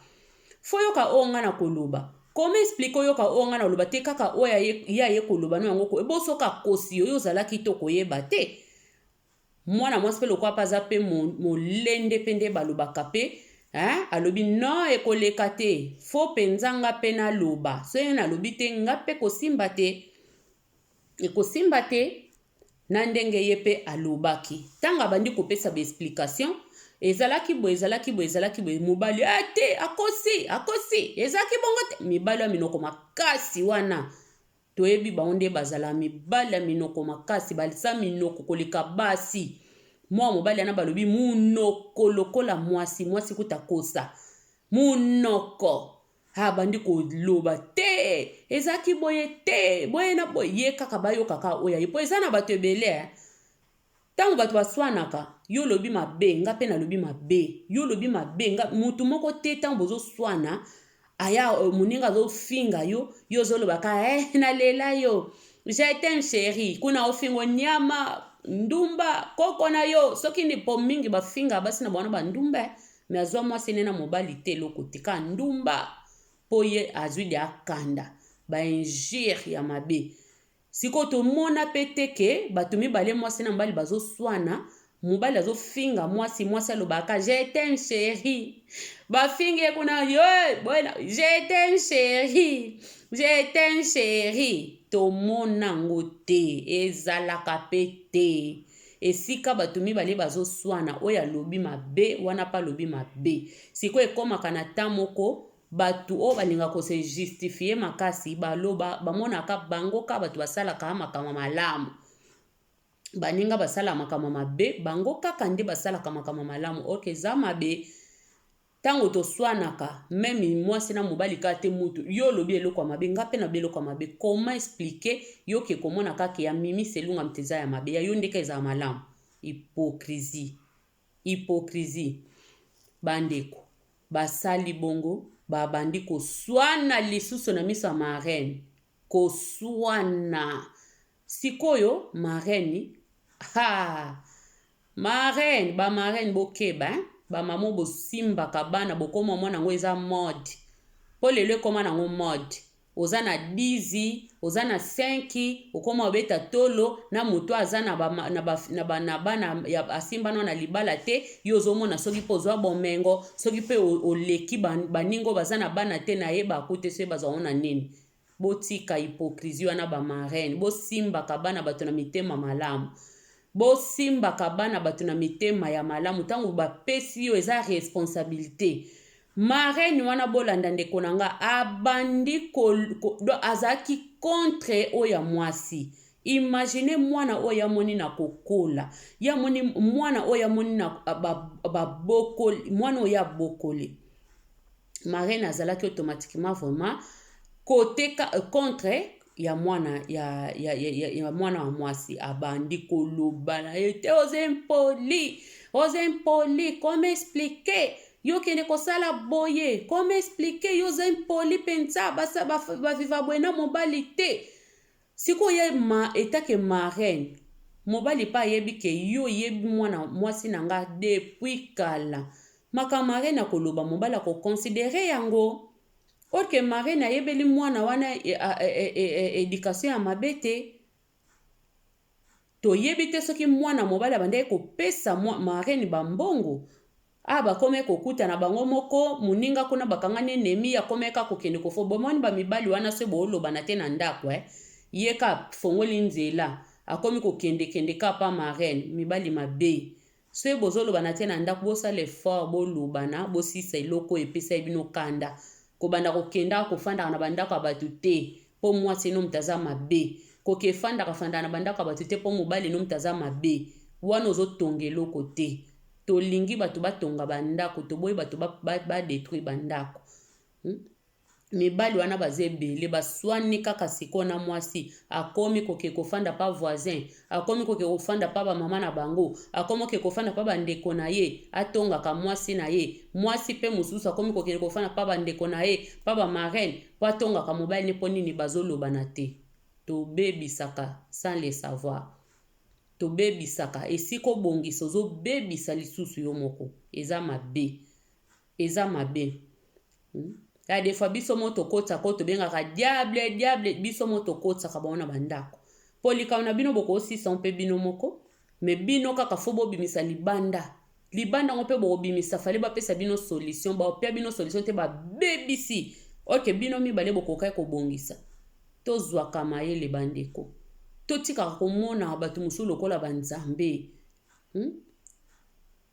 Speaker 1: Faut yoka oyo nga nakoloba. Comment expliquer oyoka oyo nga naloba te kaka oyo ya ye, ye aye koloba no yango ko ebo soki akosi yo yo ozalaki te okoyeba te mwana mwasi mpe lokola mpe aza mpe molende mpe nde balobaka mpe hein? alobi non ekoleka te fo mpenza nga mpe naloba soki nalobi te nga mpe kosimba te Ekosimba te na ndenge ye pe alobaki. Tango abandi kopesa ba explication, ezalaki boye, ezalaki boye, ezalaki boye, mobali ah te, akosi, akosi, ezalaki bongo te. Mibali ya minoko makasi wana toyebi bango nde bazala mibali ya minoko makasi, balisa minoko koleka basi. Mwa mobali yana balobi munoko lokola mwasi, mwasi kuta kosa. Munoko. a bandi koloba te ezalaki boye te boye na boye ye kaka bayoka kaka oyo aye mpo eza na bato ebele eh. ntango bato baswanaka yo olobi mabe nga mpe nalobi mabe yo olobi mabe nga motu moko te ntango bozoswana aya euh, moninga azofinga yo yo ozolobaka eh, nalela yo jetem sheri kuna ofingo nyama ndumba koko na yo soki nipo mingi bafinga basi na bango na bandumba eh. Mais azwa mwasi ne na mobali te eloko te ka ndumba po ye azwi de akanda ba injure ya mabe sikoyo tomona mpe te ke bato mibale mwasi na mobali bazoswana mobali azofinga mwasi mwasi alobaka jetem sheri bafingi ye kuna yo boyena jetem sheri jetem sheri tomona yango te ezalaka mpe te Esika batu mibale bazo swana oyo alobi mabe wana pe alobi mabe sikoyo ekomaka na temps moko batu oyo balinga ko se justifier makasi baloba bamonaka bango ka batu basalaka makambo malamu baninga basala makambo mabe bango kaka nde basalaka makambo malamu ok eza mabe Tango toswanaka meme muasi na mobali kaka te mutu yo olobi eloko ya mabe nga pe nalobi eloko ya mabe comment explique yo ke komona kaka ke ya mimi selunga mutu eza ya mabe ya yo nde kaka ezala malamu hypocrisie hypocrisie ba ndeko basali bongo ba bandi koswana lisusu na miso ya marraine koswana Sikoyo marraine haa marraine ba marraine bokeba hein ba maman bosimbaka bana bokoma mwana yango eza mode po lelo ekoma nango mode oza na 10 oza na 5 okoma obeta tolo na moto aza na ba, na ba, na ba, na bana ya asimbana na libala te yo ozomona soki mpe ozwa bomengo soki mpe oleki baningo baza na bana te na ye bakute soki bazwango na nini Botika hypocrisie wana ba marraine bo simbaka bana batu na mitema malamu bo simbaka bana batu na mitema ya malamu tango ba pesi yo eza responsabilite marraine wana bolanda ndeko na nga abandi ko, ko, do azalaki contre oyo ya mwasi imagine mwana oyo amoni na kokola ye amoni mwana oyo amoni na babokoli ba mwana oyo abokoli marraine azalaki automatiquement vraiment kote euh, contre ya mwana ya, ya, ya, ya, ya mwana wa mwasi abandi koloba na ye te oza impoli oza impoli comme explike yo kende kosala boye comme explike yo oza impoli mpenza baviva boye na mobali te Sikoyo ye ma etat que marraine mobali pe ayebi que yo oyebi mwana mwasi na nga depuis kala makambo marraine akoloba mobali ako considerer yango or que marraine ayebeli mwana wana education ya mabe te. Toyebi te soki mwana mobali abandaki kopesa marraine ba mbongo, awa bakomaki kokutana bango moko, moninga kuna bakangani enemi, akomaki kaka kokende kofo. Bomoni ba mibali wana soki bolobana te na ndako eh, ye kaka afongoli nzela, akomi kokende kende kaka pa marraine, mibali mabe. Soki bozo loba na tia na ndaku bosala effort bolobana bosilisa eloko oyo epesaki bino kanda kobanda kokendaka kofandaka na bandako ya batu te po muasi eno moto aza mabe koke fandaka fandaka na bandako ya batu te po mobali eno moto aza mabe wana ozo tonga eloko te tolingi batu batonga ba ndaku toboyi batu ba ba detruire ba ndaku hum Mibali wana baza ebele baswani kaka sikoyo na mwasi akomi koke kofanda pa voisin akomi koke kofanda pa bamama na bango akomi koke kofanda pa bandeko na ye atongaka mwasi na ye mwasi mpe mosusu akomi kokende kofanda pa bandeko na ye pa bamarene mpo atongaka mobali ne mpo nini bazolobana te tobebisaka sans le savoir tobebisaka esika obongisa ozobebisa lisusu yo moko eza mabe Eza mabe. Hmm? Ya des fois biso mo tokotisa ko tobengaka diable diable biso mo tokotisaka bango na bandako. Po likambo na bino bokosisa mpe bino moko me bino kaka fo bobimisa libanda libanda yango mpe bokobimisa fale bapesa bino solution bapia bino solution te babebisi oke bino mibale bokokaki kobongisa tozwaka mayele bandeko totikaka komona bato mosusu lokola banzambe hmm?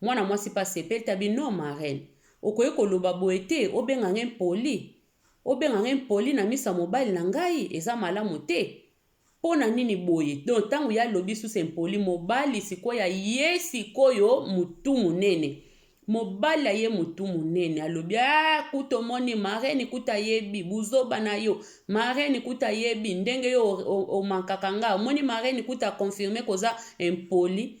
Speaker 1: Mwana mwasi pe asepeli tabi non marraine okoki koloba boye te obenga nga impoli obenga nga impoli na miso ya mobali na ngai eza malamu te pona nini boye donc tango ya lobi susu impoli mobali sikoyo aye sikoyo mutu munene mobali aye mutu munene alobi ah kutu omoni marraine kutu ayebi buzoba na yo marraine kutu ayebi ndenge yo omankaka nga omoni marraine kutu akonfirme koza impoli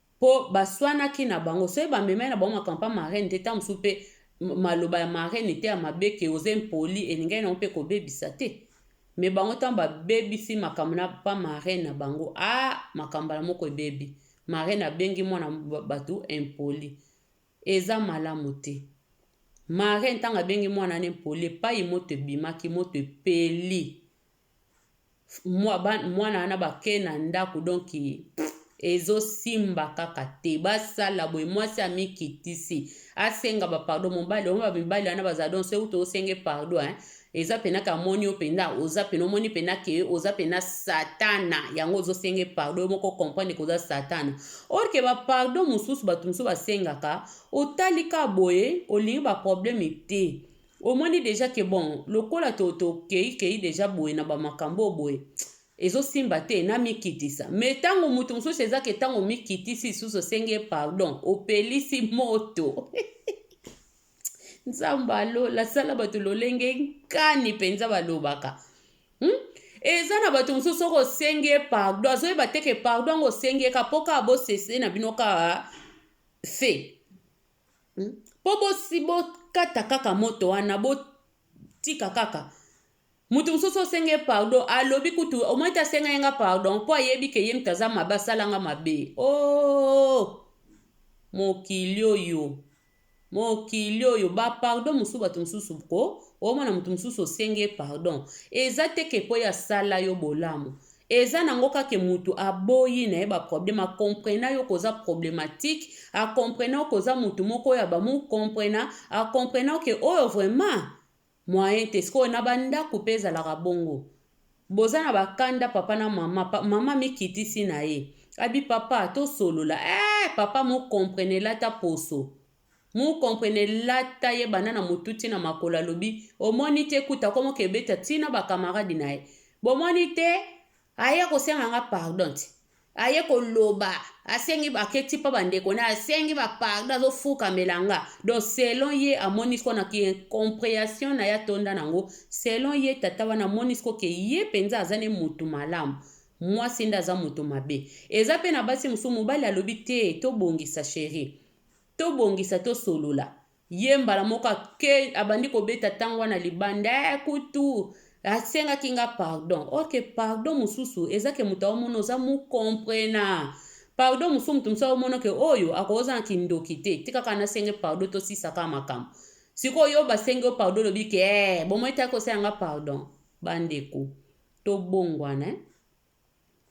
Speaker 1: Po baswanaki na bango soki ba memaki na bango makambo pa marraine te tango mosusu pe maloba ya marraine te ya mabe que oza impoli elingaki na yango pe kobebisa te mais bango tango ba bebisi makambo na pa marraine na bango ah makambo mbala moko ebebi marraine abengi mwana batu impoli eza malamu te marraine tango abengi mwana na impoli epayi moto ebimaki moto epeli mwana wana bake na ndako donc ezosimba kaka te basala boye mwasi amikitisi asenga bapardon mobali omo bamibali wana bazala don se uto osenge pardon eh? eza mpena ka moni yo mpena oza mpena omoni mpena ke oza mpena satana yango ozosenge pardon yo moko comprendre koza satana orke bapardon mosusu bato mosusu basengaka otali ka boye olingi baprobleme te Omoni dejà que bon lokola to to keyi keyi dejà boye na ba makambo oyo boye ezo simba te na mi kitisa mais tango mutu mususu eza que tango omi kitisi lisusu osengi ye pardon opelisi moto Nzambe ya lola asala bato lolenge nkani mpenza balobaka hmm? eza na bato mosusu soki osengi ye pardo azoyeba te ke pardo yango osengi ye ka mpo kaka bosese na bino kaka fe Hmm? Po bosi bokata kaka moto wana botika kaka moto mosusu osenge pardon alobi kutu omoi te asenga ye nga pardon mpo ayebi ke ye moto aza mabe asalanga mabe o oh! mokili oyo mokili oyo bapardon mosusu bato mosusu ko omona moto mosusu osenge pardon eza te ke mpo ye asala yo bolamu Eza nango kake mutu aboyi naye ba problème a comprena yo koza problematique a comprena yo koza mutu moko ya ba mu comprena a comprena yo ke oyo vraiment moyen te sikoyo na ba ndaku pe ezalaka bongo boza na ba kanda papa na mama pa, mama amikitisi naye abi papa tosolola eh papa mo comprenela ata poso Mu comprene lata ye banda na mutu ti na makolo alobi omoni te kutu akomo ke beta ti na ba camarade na ye bomoni te aye kosenga nga pardon ti aye koloba asengi ake ti pa ba ndeko na asengi ba pardon azo fukamela nga donc selon ye amoni ko na ki incomprehension na ye atonda na ngo selon ye tata wana amoni ko ke ye penza aza ne mutu malamu mwasi nde aza mutu mabe eza pe na basi musu mobali alobi te tobongisa cherie To bongisa to solola. Ye mbala moko ake abandi kobeta tango wana libanda eh, kutu asengaki nga pardon. Ok, pardon mususu eza ke moto aomona oza mu comprena. Pardon mususu moto mosusu aomona ke oyo akoza na kindoki te. Tika kaka nasenge pardon to sisa kaka makambo. Sikoyo yo basengi yo pardon lobi ke eh, bomoi te akosela nga pardon. Bandeko, tobongwana eh.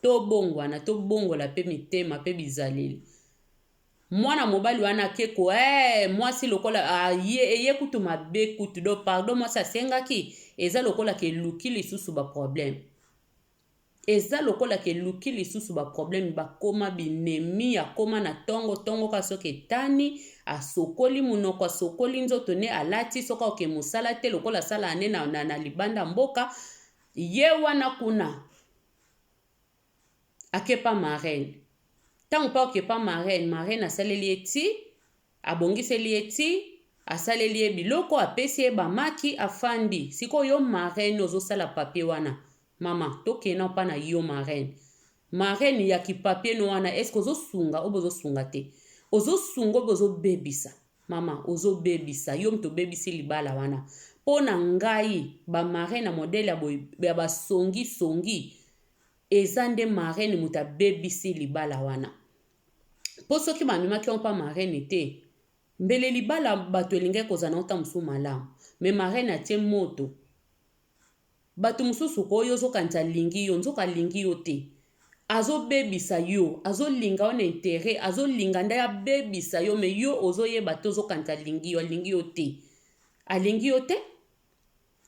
Speaker 1: Tobongwana, tobongola pe mitema pe bizaleli. Mwana mobali wana ake ko eh, mwasi lokola aye eye kutu mabe kutu do pardon mwasi asengaki eza lokola ke luki lisusu ba problème. Eza lokola ke luki lisusu ba problème bakoma binemi akoma na tongo tongo ka soki etani asokoli munoko asokoli nzoto ne alati soki oke musala te lokola sala ane na, na, na libanda mboka Ye wana kuna ake pa marraine ntango mpe oke pa marraine marraine asaleli ye ti abongiseli ye ti asaleli ye biloko apesi ye bamaki afandi sikoyo yo marraine ozosala papier wana mama tokei nao mpa na yo marraine marraine ya kipapier no wana eske ozosunga oyo bozosunga te ozosunga oyo bozobebisa Maman ozo bebisa yo mutu obebisi libala wana po na ngai ba marraine ya modèle ya boye ya ba songi songi eza nde marraine mutu abebisi libala wana po soki ba memaki yango pa marraine te mbele libala batu elingaki kozala na ngo tango mosusu malamu mais marraine atie moto Batu mususu ko yo ozo kanisa alingi yo nzoka alingi yo te azo bebisa yo azo linga yo na interet azo linga nde abebisa yo mais yo ozo yeba te ozo kanisa alingi yo alingi yo te alingi yo te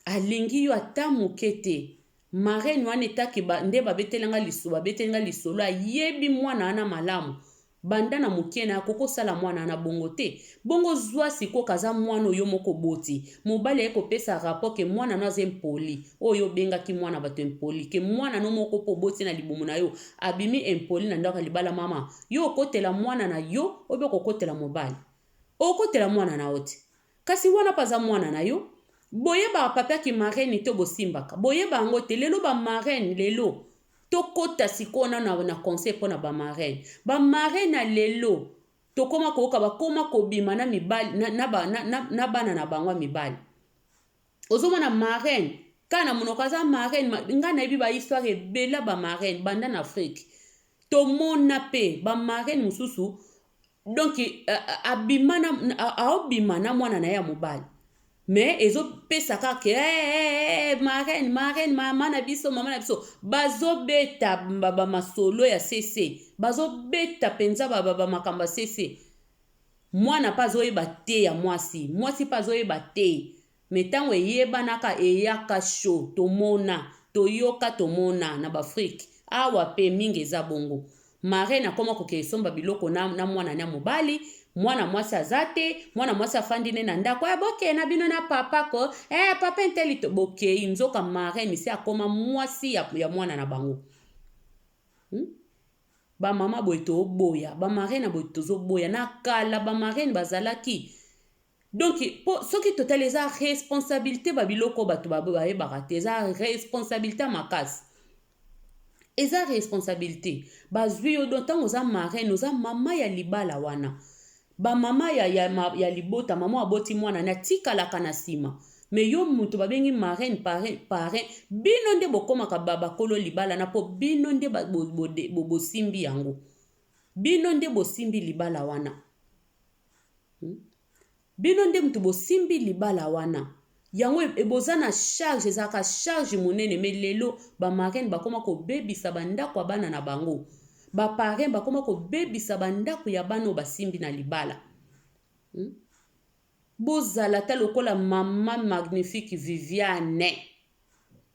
Speaker 1: alingi yo ata muke te marraine wana etake ba, nde babeteli nga lisolo babeteli nga lisolo ayebi mwana wana malamu Banda na mukie na koko sala muana na bongo te bongo zua sikoyo kaza muana oyo yo moko oboti mobali aye ko pesa rapport ke muana no aza impoli oyo yo obengaki muana batu impoli ke muana no moko po oboti na libumu na yo abimi impoli na ndaku ya libala maman yo okotela muana na yo obe okokotela mobali okotela muana na yo te. Kasi wana pe aza mwana na yo. Boyebaka papa ki marraine te bosimbaka boyeba yango te lelo ba marraine lelo tokota sikoyo nanu na conseil pona ba marraine ba marraine ya lelo tokoma koyoka bakoma kobima na mibali na, na, na, na, na bana na bango ya mibali ozomona marraine kaka na monoko aza marraine ngai nayebi ba histoire ebele ya ba marraine banda na afrique tomona mpe ba marraine mosusu donc abima na aobima na mwana na ye ya mobali mais ezopesa kaka ke hey, hey, hey, marraine marraine mama na biso mama na biso bazobeta bamasolo ya sese bazobeta mpenza bamakambo ya sese Mwana pe azoyeba te ya mwasi, mwasi pe azoyeba te mais tango eyebanaka eyaka chaud tomona, toyoka tomona na b'Afrique awa pe mingi eza bongo marraine akoma kokende somba biloko na na mwana na mobali, mwana mwasi aza te, mwana mwasi afandi ne na ndako eh bokeye na bino na papa ko eh papa inteli to bokeyi nzoka marraine esi akoma mwasi ya, ya mwana na bango hmm? Ba mama boye toboya ba marraine boye tozoboya na kala ba marraine bazalaki donc po soki totali eza responsabilite ba biloko bato bayebaka te eza responsabilite ya makasi eza responsabilite bazwi yo donc ntango oza marraine oza mama ya libala wana Ba mama ya ya ma ya libota mama oyo aboti mwana ne atikalaka na nsima me yo moto babengi marraine parrain parrain bino nde bokomaka ba bakolo libala na mpo bino nde ba- bo- bo- de- bo- bosimbi yango bino nde bosimbi libala wana Hmm? bino nde moto bosimbi libala wana yango eboza na charge ezalaka charge monene me lelo bamarraine bakoma kobebisa bandako ya bana na bango baparin bakoma kobebisa bandako ya bana oyo basimbi na libala hmm? bozala ata lokola mama magnifique viviane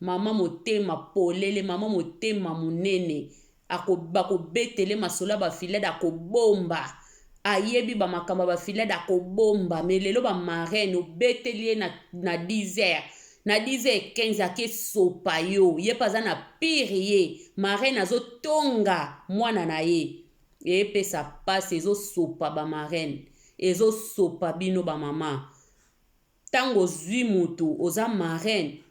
Speaker 1: Maman motema polele maman motema munene ako bako betele masolo ya ba filade ako bomba ayebi ba makambo ya ba filade ako bomba mais lelo ba marraine obeteli ye na na 10 heures na 10 heures 15 ake sopa yo ye pe aza na pire ye marraine azo tonga mwana na ye epesa pasi ezo sopa ba marraine ezo sopa bino ba maman Tango ozui mutu oza marraine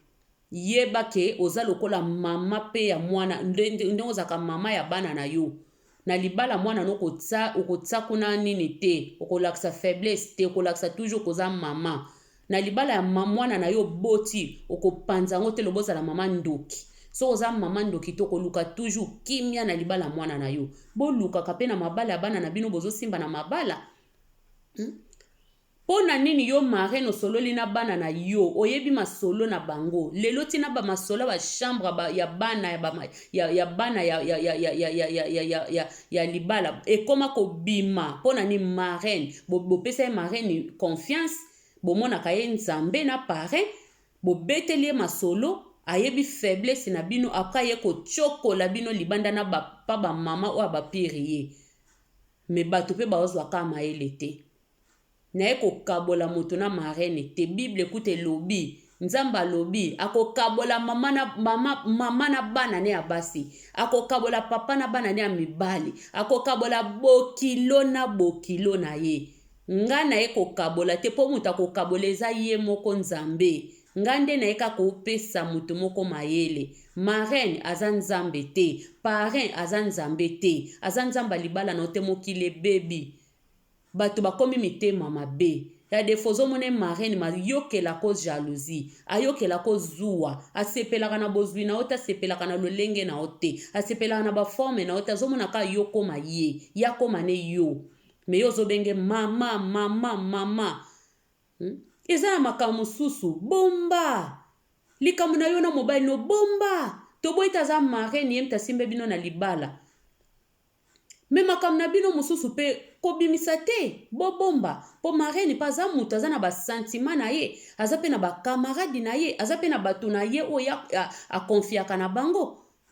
Speaker 1: yeba ke oza lokola mama pe ya muana ndenge ozalaka mama ya bana na yo na libala muana no kotsa okotsa kuna nini te okolakisa faiblesse te okolakisa toujours koza mama na libala ya muana na yo oboti okopanza yango te lobozala mama ndoki soki oza mama ndoki te okoluka toujours kimia na libala mwana na yo bolukaka mpe na mabala ya bana na bino bozosimba na mabala hmm? Pona nini yo marraine osololi na bana na yo oyebi masolo na bango lelo ti na ba masolo ya ba chambre ya bana ya ba ya ya bana ya ya ya ya ya ya ya ya ya ya libala ekoma kobima pona ni marraine bo bopesa ye marraine confiance bomonaka ye nzambe na parrain bobeteli ye masolo ayebi faiblesse na bino apres aye kotiokola bino libanda na bapa bamama oyo abapirie Mais batu pe bazwa ka mayele te naye kokabola moto na marraine te bible kutu elobi nzambe alobi akokabola mama na mama mama na bana ne ya basi akokabola papa na bana ne ya mibali akokabola bokilo na bokilo na ye nga naye kokabola te po moto akokabola eza ye moko nzambe Nga nde naye ka ko pesa moto moko mayele Marraine aza nzambe te Parrain aza nzambe te Aza nzambe ya libala na yo te Mokili ebebi Bato bakomi mitema mabe Ya defaut ozo mona ye Marraine ma yokela ko jalousie A yokela ko zuwa A sepelaka na bozwi na yo te A sepelaka na lolenge na yo te A sepelaka na ba forme na yo te Azo mona kaka yo okoma ye Ye akoma ne yo Mais yo ozo benge mama mama mama Hum eza na makambo mosusu bomba likambo na yo na mobali no bomba toboyi te aza marraine ye mte asimbe bino na libala me makambo na bino mosusu mpe kobimisa te bobomba mpo marraine mpe aza moto aza na basantima na ye aza mpe na bakamaradi na ye aza mpe na bato na ye oyo akonfiaka na bango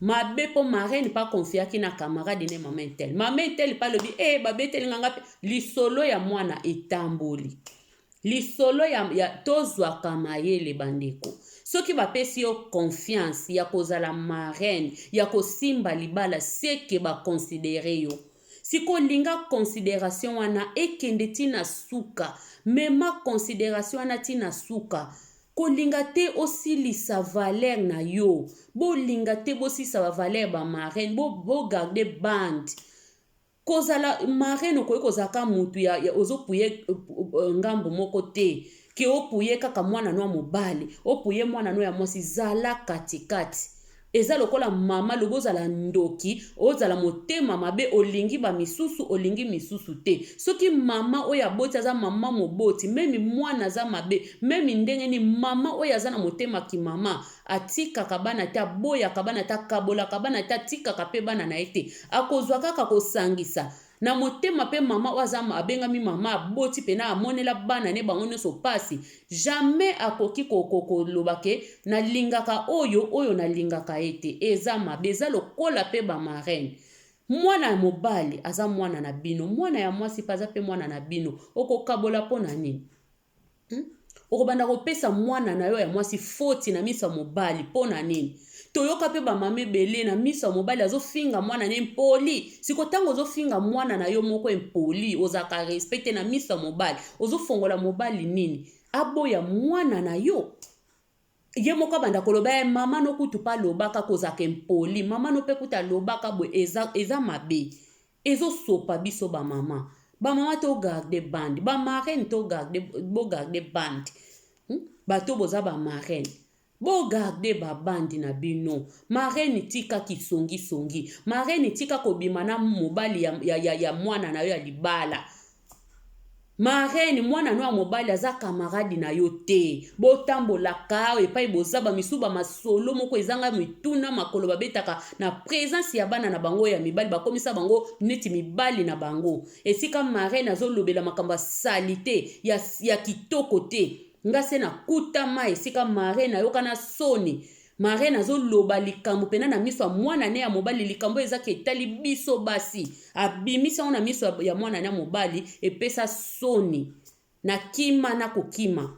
Speaker 1: mabe mpo marraine mpe akonfiaki na camarade ne mama intel mama intel mpe alobi e eh, babeteli nga ngape lisolo ya mwana etamboli lisolo ya, ya tozwaka mayele bandeko soki bapesi yo confiance ya kozala marraine ya kosimba libala seke bakonsidere yo sikoyo linga consideration wana ekende ntina suka mema consideration wana ntina suka Kolinga te osilisa valeur na yo bolinga te bosilisa ba valeur ba marraine bo bo garde bande kozala marraine okoki kozala ka mutu ya, ya ozopuye eh, eh, ngambo moko te ke opuye kaka mwana no ya mobali opuye mwana no ya mwasi zala katikati Eza lokola maman lobi ozala ndoki ozala motema mabe olingi ba misusu olingi misusu te soki maman oyo aboti aza maman moboti meme mwana aza mabe meme ndenge ni maman oyo aza na motema ki maman atikaka bana te aboyaka bana te akabolaka bana te atikaka pe bana na ye te akozwa kaka kosangisa na motema pe mama oyo aza abengami mama aboti pena amonela bana ne bango nyonso pasi jamais akoki koloba ke nalingaka oyo oyo nalingaka ye te eza mabe eza lokola pe ba marraine mwana ya mobali aza mwana na bino mwana ya mwasi pe aza pe mwana na bino okokabola mpo na nini Hmm? okobanda kopesa mwana na yo ya mwasi foti na miso ya mobali mpo na nini toyoka mpe bamama ebele na miso ya mobali azofinga mwana na impoli siko ntango ozofinga mwana na yo moko impoli ozalaka respect te na miso ya mobali ozofongola mobali nini aboya mwana na yo ye moko abanda koloba ye eh, mama no kutu pa lobaka kozaka impoli mama no pe kutu alobaka boye eza, eza mabe ezosopa biso bamama bamama to garde bande bamarraine to garde bogarde bande hmm? bato boza bamarraine bogarde babandi na bino marraine tika kisongisongi marraine tika kobima na mobali ya, ya, ya, ya mwana na yo ya libala Marraine mwana no ya mobali aza camarade na yo te. Botambolaka epai boza ba misusu ba masolo moko ezanga mituna makolo babetaka na presence ya bana na bango ya mibali bakomisa bango neti mibali na bango. Esika marraine azolobela makambo ya salite ya, ya kitoko te. Nga se nakutama esika marraine ayoka na soni. Marraine azo loba likambo pena na miso ya mwana ne ya mobali likambo eza ke etali biso basi abimisa ngo na miso ya mwana na mobali epesa soni na kima na kokima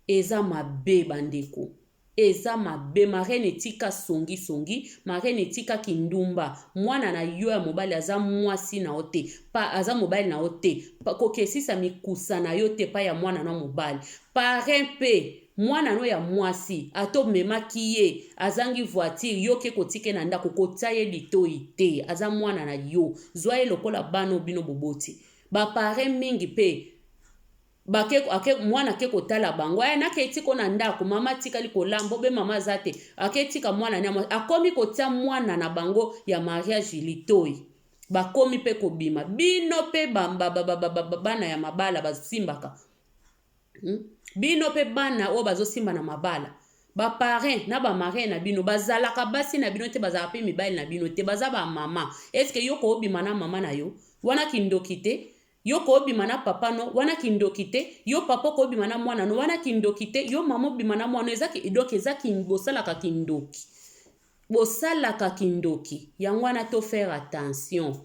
Speaker 1: eza mabe bandeko eza mabe marraine etika songi songi marraine etika kindumba mwana na yo ya mobali aza mwasi na yo te pa aza mobali na yo te kokesisa mikusa na yo te pa ya mwana na mobali parrain pe Mwana no ya mwasi ata omemaki ye azangi voiture yo oke kotika ye na ndako kotia ye litoyi te aza mwana na yo zwa ye lokola bana oyo bino boboti ba parrain mingi pe bake ake mwana ake kotala bango aya nake etika na ndako mama atikali kolamba obe mama aza te ake etika mwana ne akomi kotia mwana na bango ya mariage litoyi bakomi pe kobima bino pe bana ya mabala basimbaka Hmm? Bino pe bana oyo bazosimba na mabala ba parrain na ba marin na bino bazalaka basi na bino te bazalaka pe mibali na bino te baza ba mama eske yo koobima na mama na yo wana kindoki te yo koobima na papa no wana kindoki te yo papa koobima na mwana no wana kindoki te yo mama obima na mwana eza donc eza kin bosalaka kindoki bosalaka kindoki yango wana to faire attention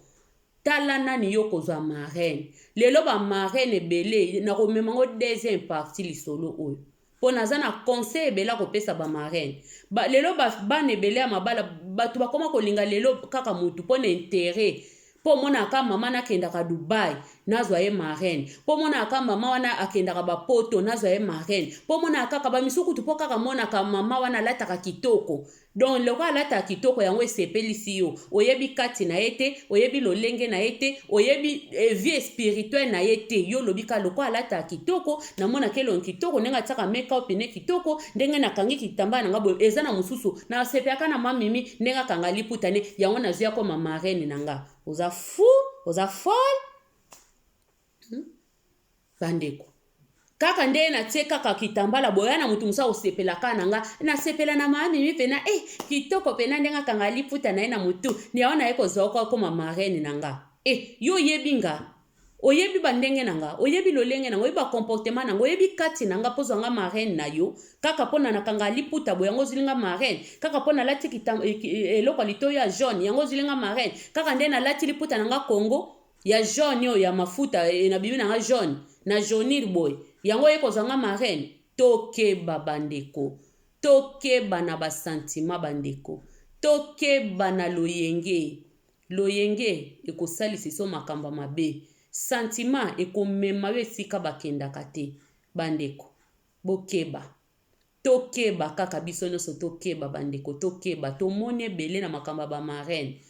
Speaker 1: Tala nani yo okozwa marraine. Lelo ba marraine ebele nakomema ngo deuxième partie lisolo oyo. Mpo naza na conseil ebele akopesa ba marraine. Ba, lelo ba, bana ebele ya mabala bato bakoma kolinga lelo kaka mutu mpo na interet mpo omonaka mama nakendaka dubai nazwa ye marraine mpo omonaka mama wana akendaka bapoto nazwa ye marraine mpo omonaka kaka bamisusu kutu mpo kaka monaka mama wana alataka kitoko Donc lokola alataka kitoko yango esepelisi yo, oyebi kati na ye te, oyebi lolenge na ye te, oyebi eh, vie spirituelle na ye te. Yo olobi ka lokola alataka kitoko, namona kelongi kitoko, ndenge atiaka make-up ne kitoko, ndenge nakangi kitambala na nga boye, eza na mosusu nasepelaka na mamimi ndenge akanga liputa ne, yango nazwi akoma marraine na nga. Oza fou, oza folle. Hmm? bandeko kaka nde natie kaka kitambala boya na motu mosusu akosepela kaka na nga nasepela na mamimi mpena e eh, kitoko mpena ndenge akanga liputa na ye na motu yango naye kozwa oko akoma marraine na nga e eh, yo oyebi nga oyebi bandenge na nga oyebi lolenge na nga oyebi bacomportement na nga oyebi kati na nga mpozwa nga marraine na yo kaka mpo na nakanga liputa bo yango ozwili nga marraine kaka mpo nalati eh, eloko ya litoyo ya jaune yango ozwili nga marraine kaka nde nalati liputa na nga congo ya jaune oyo ya mafuta eh, na bimi na nga jaune na jaunir boye yango ye kozwa nga marraine tokeba bandeko tokeba na basantima bandeko tokeba na loyenge loyenge ekosalisa iso makambo mabe santima ekomema yo esika bakendaka te bandeko bokeba Tokeba kaka biso nionso tokeba ba ndeko tokeba tomoni ebele na makambo ya ba marraine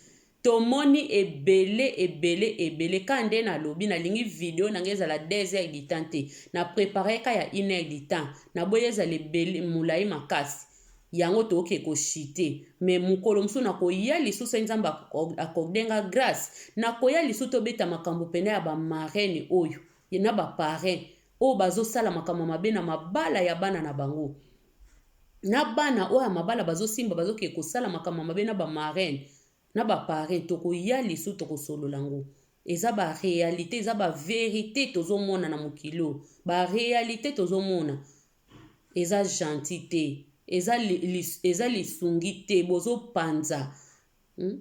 Speaker 1: tomoni ebele ebele ebele ka nde na lobi na lingi video na nga ezala deux heures du temps te na preparer ka ya une heure du temps na boyi ezala ebele mulayi makasi yango toke ko chute mais mukolo mususu na koya lisusu soki nzambe accorde nga grace na koya lisusu tobeta makambo pena ya ba marraine oyo et na ba parrains oyo bazo sala makambo ya mabe na mabala ya bana na bango na bana oyo ya mabala bazo simba bazo ke kosala makambo ya mabe na ba marraines na ba parrains tokoya lisu tokosolola ngo eza ba realite eza ba verite tozomona na mokili oyo ba realite tozomona eza gentil te eza, li, eza lisungi te bozopanza hmm?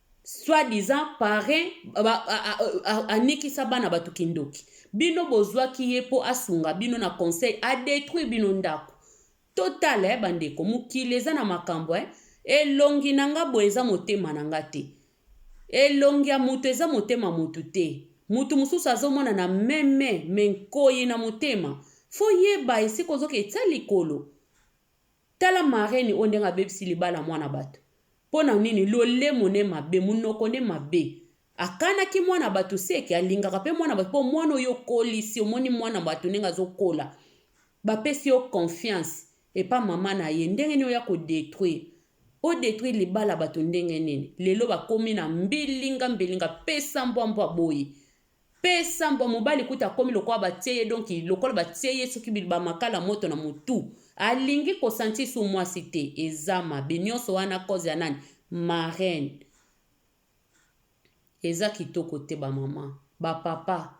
Speaker 1: soit disant parrain anikisa bana bato kindoki bino bozwaki ye mpo asunga bino na conseil adetruire bino ndako total eh, bandeko mokili eza na makambo eh. elongi na nga boye eza motema na nga te elongi ya moto eza motema moto te moto mosusu azomona na meme me nkoi na motema fo yeba esika ozoka etya likolo Tala marraine oyo ndenge abebisi libala ya mwana batu pona nini lolemo ne mabe munoko ne mabe akanaki mwana batu seke alingaka pe mwana batu po mwana oyo okolisi omoni mwana batu ndenge azokola bapesi yo confiance epa mama na ye ndenge nini oya ko detruire o detruire libala batu ndenge nini lelo bakomi na mbilinga mbilinga pesa mbwa mbwa boyi Pe sambo mobali kutu akomi lokola batie ye donc lokola batie ye soki ba makala moto na mutu alingi ko sentir sur muasi te eza mabe nionso wana cause ya nani marraine eza kitoko te ba maman ba papa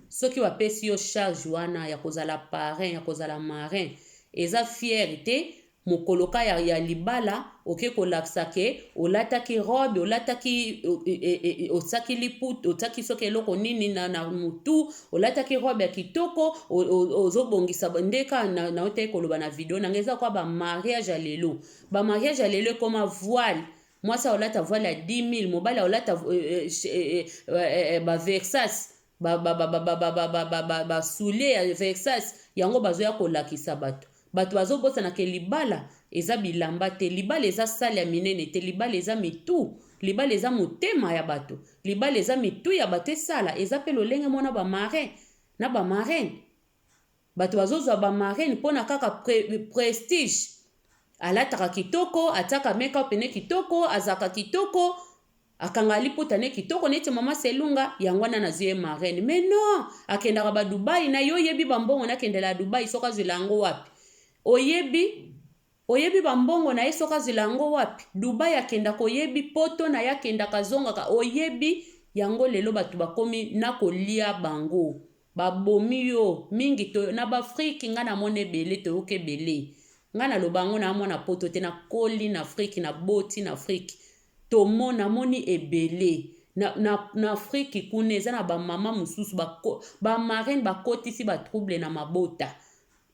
Speaker 1: soki ba pesi yo charge wana ya kozala parrain ya kozala marin eza fiere te Mokolo kaka ya libala oke kolakisa ke olataki robe, olataki otiaki liputa, otiaki soki eloko nini na, na mutu, olataki robe ya kitoko, ozobongisa nde kaka na, na otaki koloba na video nanga eza kwa ba mariage ya lelo. Ba mariage ya lelo ekoma voile mwasi aolata voile ya 10000 mobali aolata euh, euh, euh, euh, euh, ba versas ba ba ba ba ba ba ba ba ba ba soulier ya Versace yango bazo ya kolakisa batu batu bazo bosana ke libala eza bilamba te libala eza salle ya minene te libala eza mitu libala eza motema ya batu libala eza mitu ya batu esala eza pe lolenge mona ba marin na ba marraine Batu bazo zua ba marraine pona kaka prestige alataka kitoko atiaka make up ne kitoko azalaka kitoko akanga liputa ne kitoko neti mama selunga yango wana nazwi ye marraine mais non akendaka ba dubai na yo oyebi ba mbongo nakendela ya dubai soki azwila yango wapi oyebi Oyebi ba mbongo naye soki azela yango wapi? Dubai akendaka oyebi? Poto naye akendaka azongaka oyebi? Yango lelo batu bakomi nako lia bango ba bomi yo mingi to na b'afrique nga na mona ebele toyoka ebele nga na loba yango na mwana poto te na koli na afrique na boti na afrique to mo na moni ebele na na na afrique kuna eza na ba mama mususu ba ba marraine ba kotisi ba trouble na mabota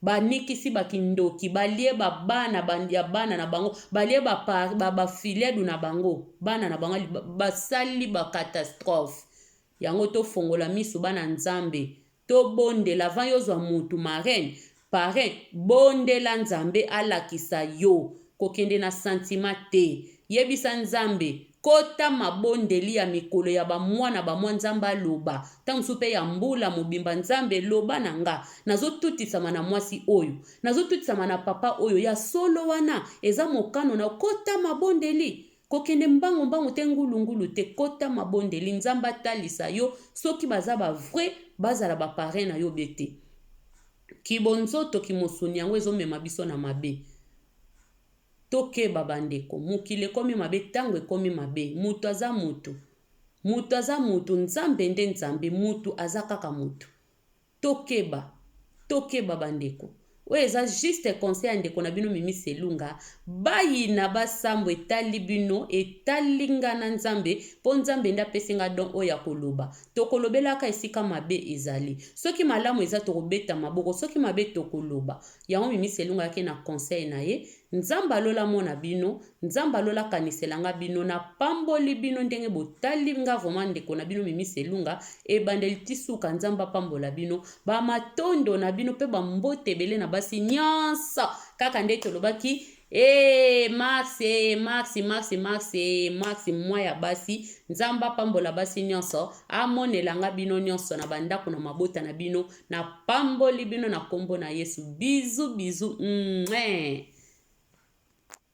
Speaker 1: Ba nikisi ba kindoki balie ba bana ba ya bana na bango balie ba pa ba ba filledu na bango bana na bango basali ba catastrophe yango tofongola misu bana nzambe tobondela avant yozwa mutu marraine parrain bondela nzambe alakisa yo kokende na sentiment te yebisa nzambe Kota mabondeli ya mikolo ya ba mwa na ba mwa Nzambe aloba, tango mosusu pe ya mbula mobimba Nzambe loba na nga, nazo tutisama na mwasi oyo, nazo tutisama na papa oyo ya solo wana eza mokano na yo kota mabondeli, kokende mbangu mbangu te ngulu ngulu te kota mabondeli Nzambe atalisa yo soki baza ba vrais bazala ba parrain na yo be te. Kibonzoto kimosuni yango ezo mema biso na mabe. Tokeba ba ndeko, mokili ekomi mabe, tango ekomi mabe, mutu aza mutu, mutu aza mutu, Nzambe nde Nzambe, mutu aza kaka mutu. Tokeba, tokeba ba ndeko. Oyo eza juste conseil ya ndeko na bino Mimi Selunga, bayina ba sambo etali bino, etali nga na Nzambe, po Nzambe nde apesi nga don oyo ya koloba. Toko lobelaka esika mabe ezali, soki malamu eza toko beta maboko, soki mabe toko loba. Yango Mimi Selunga ayaki na conseil na ye, Nzambe ya lola amona bino, Nzambe ya lola akanisela nga bino, na pamboli bino ndenge botali nga vraiment ndeko na bino Mimi Selunga, ebandeli ti suka Nzambe apambola bino, ba matondo na bino pe ba mbote ebele na basi nionso, kaka nde tolobaki Ee eh, Max ee eh, Max Max Max ee eh, Max mwa ya basi Nzambe apambola basi nyonso amonela nga bino nyonso na bandako na mabota na bino napamboli bino na nkombo na Yesu bizu bizu mm -hmm.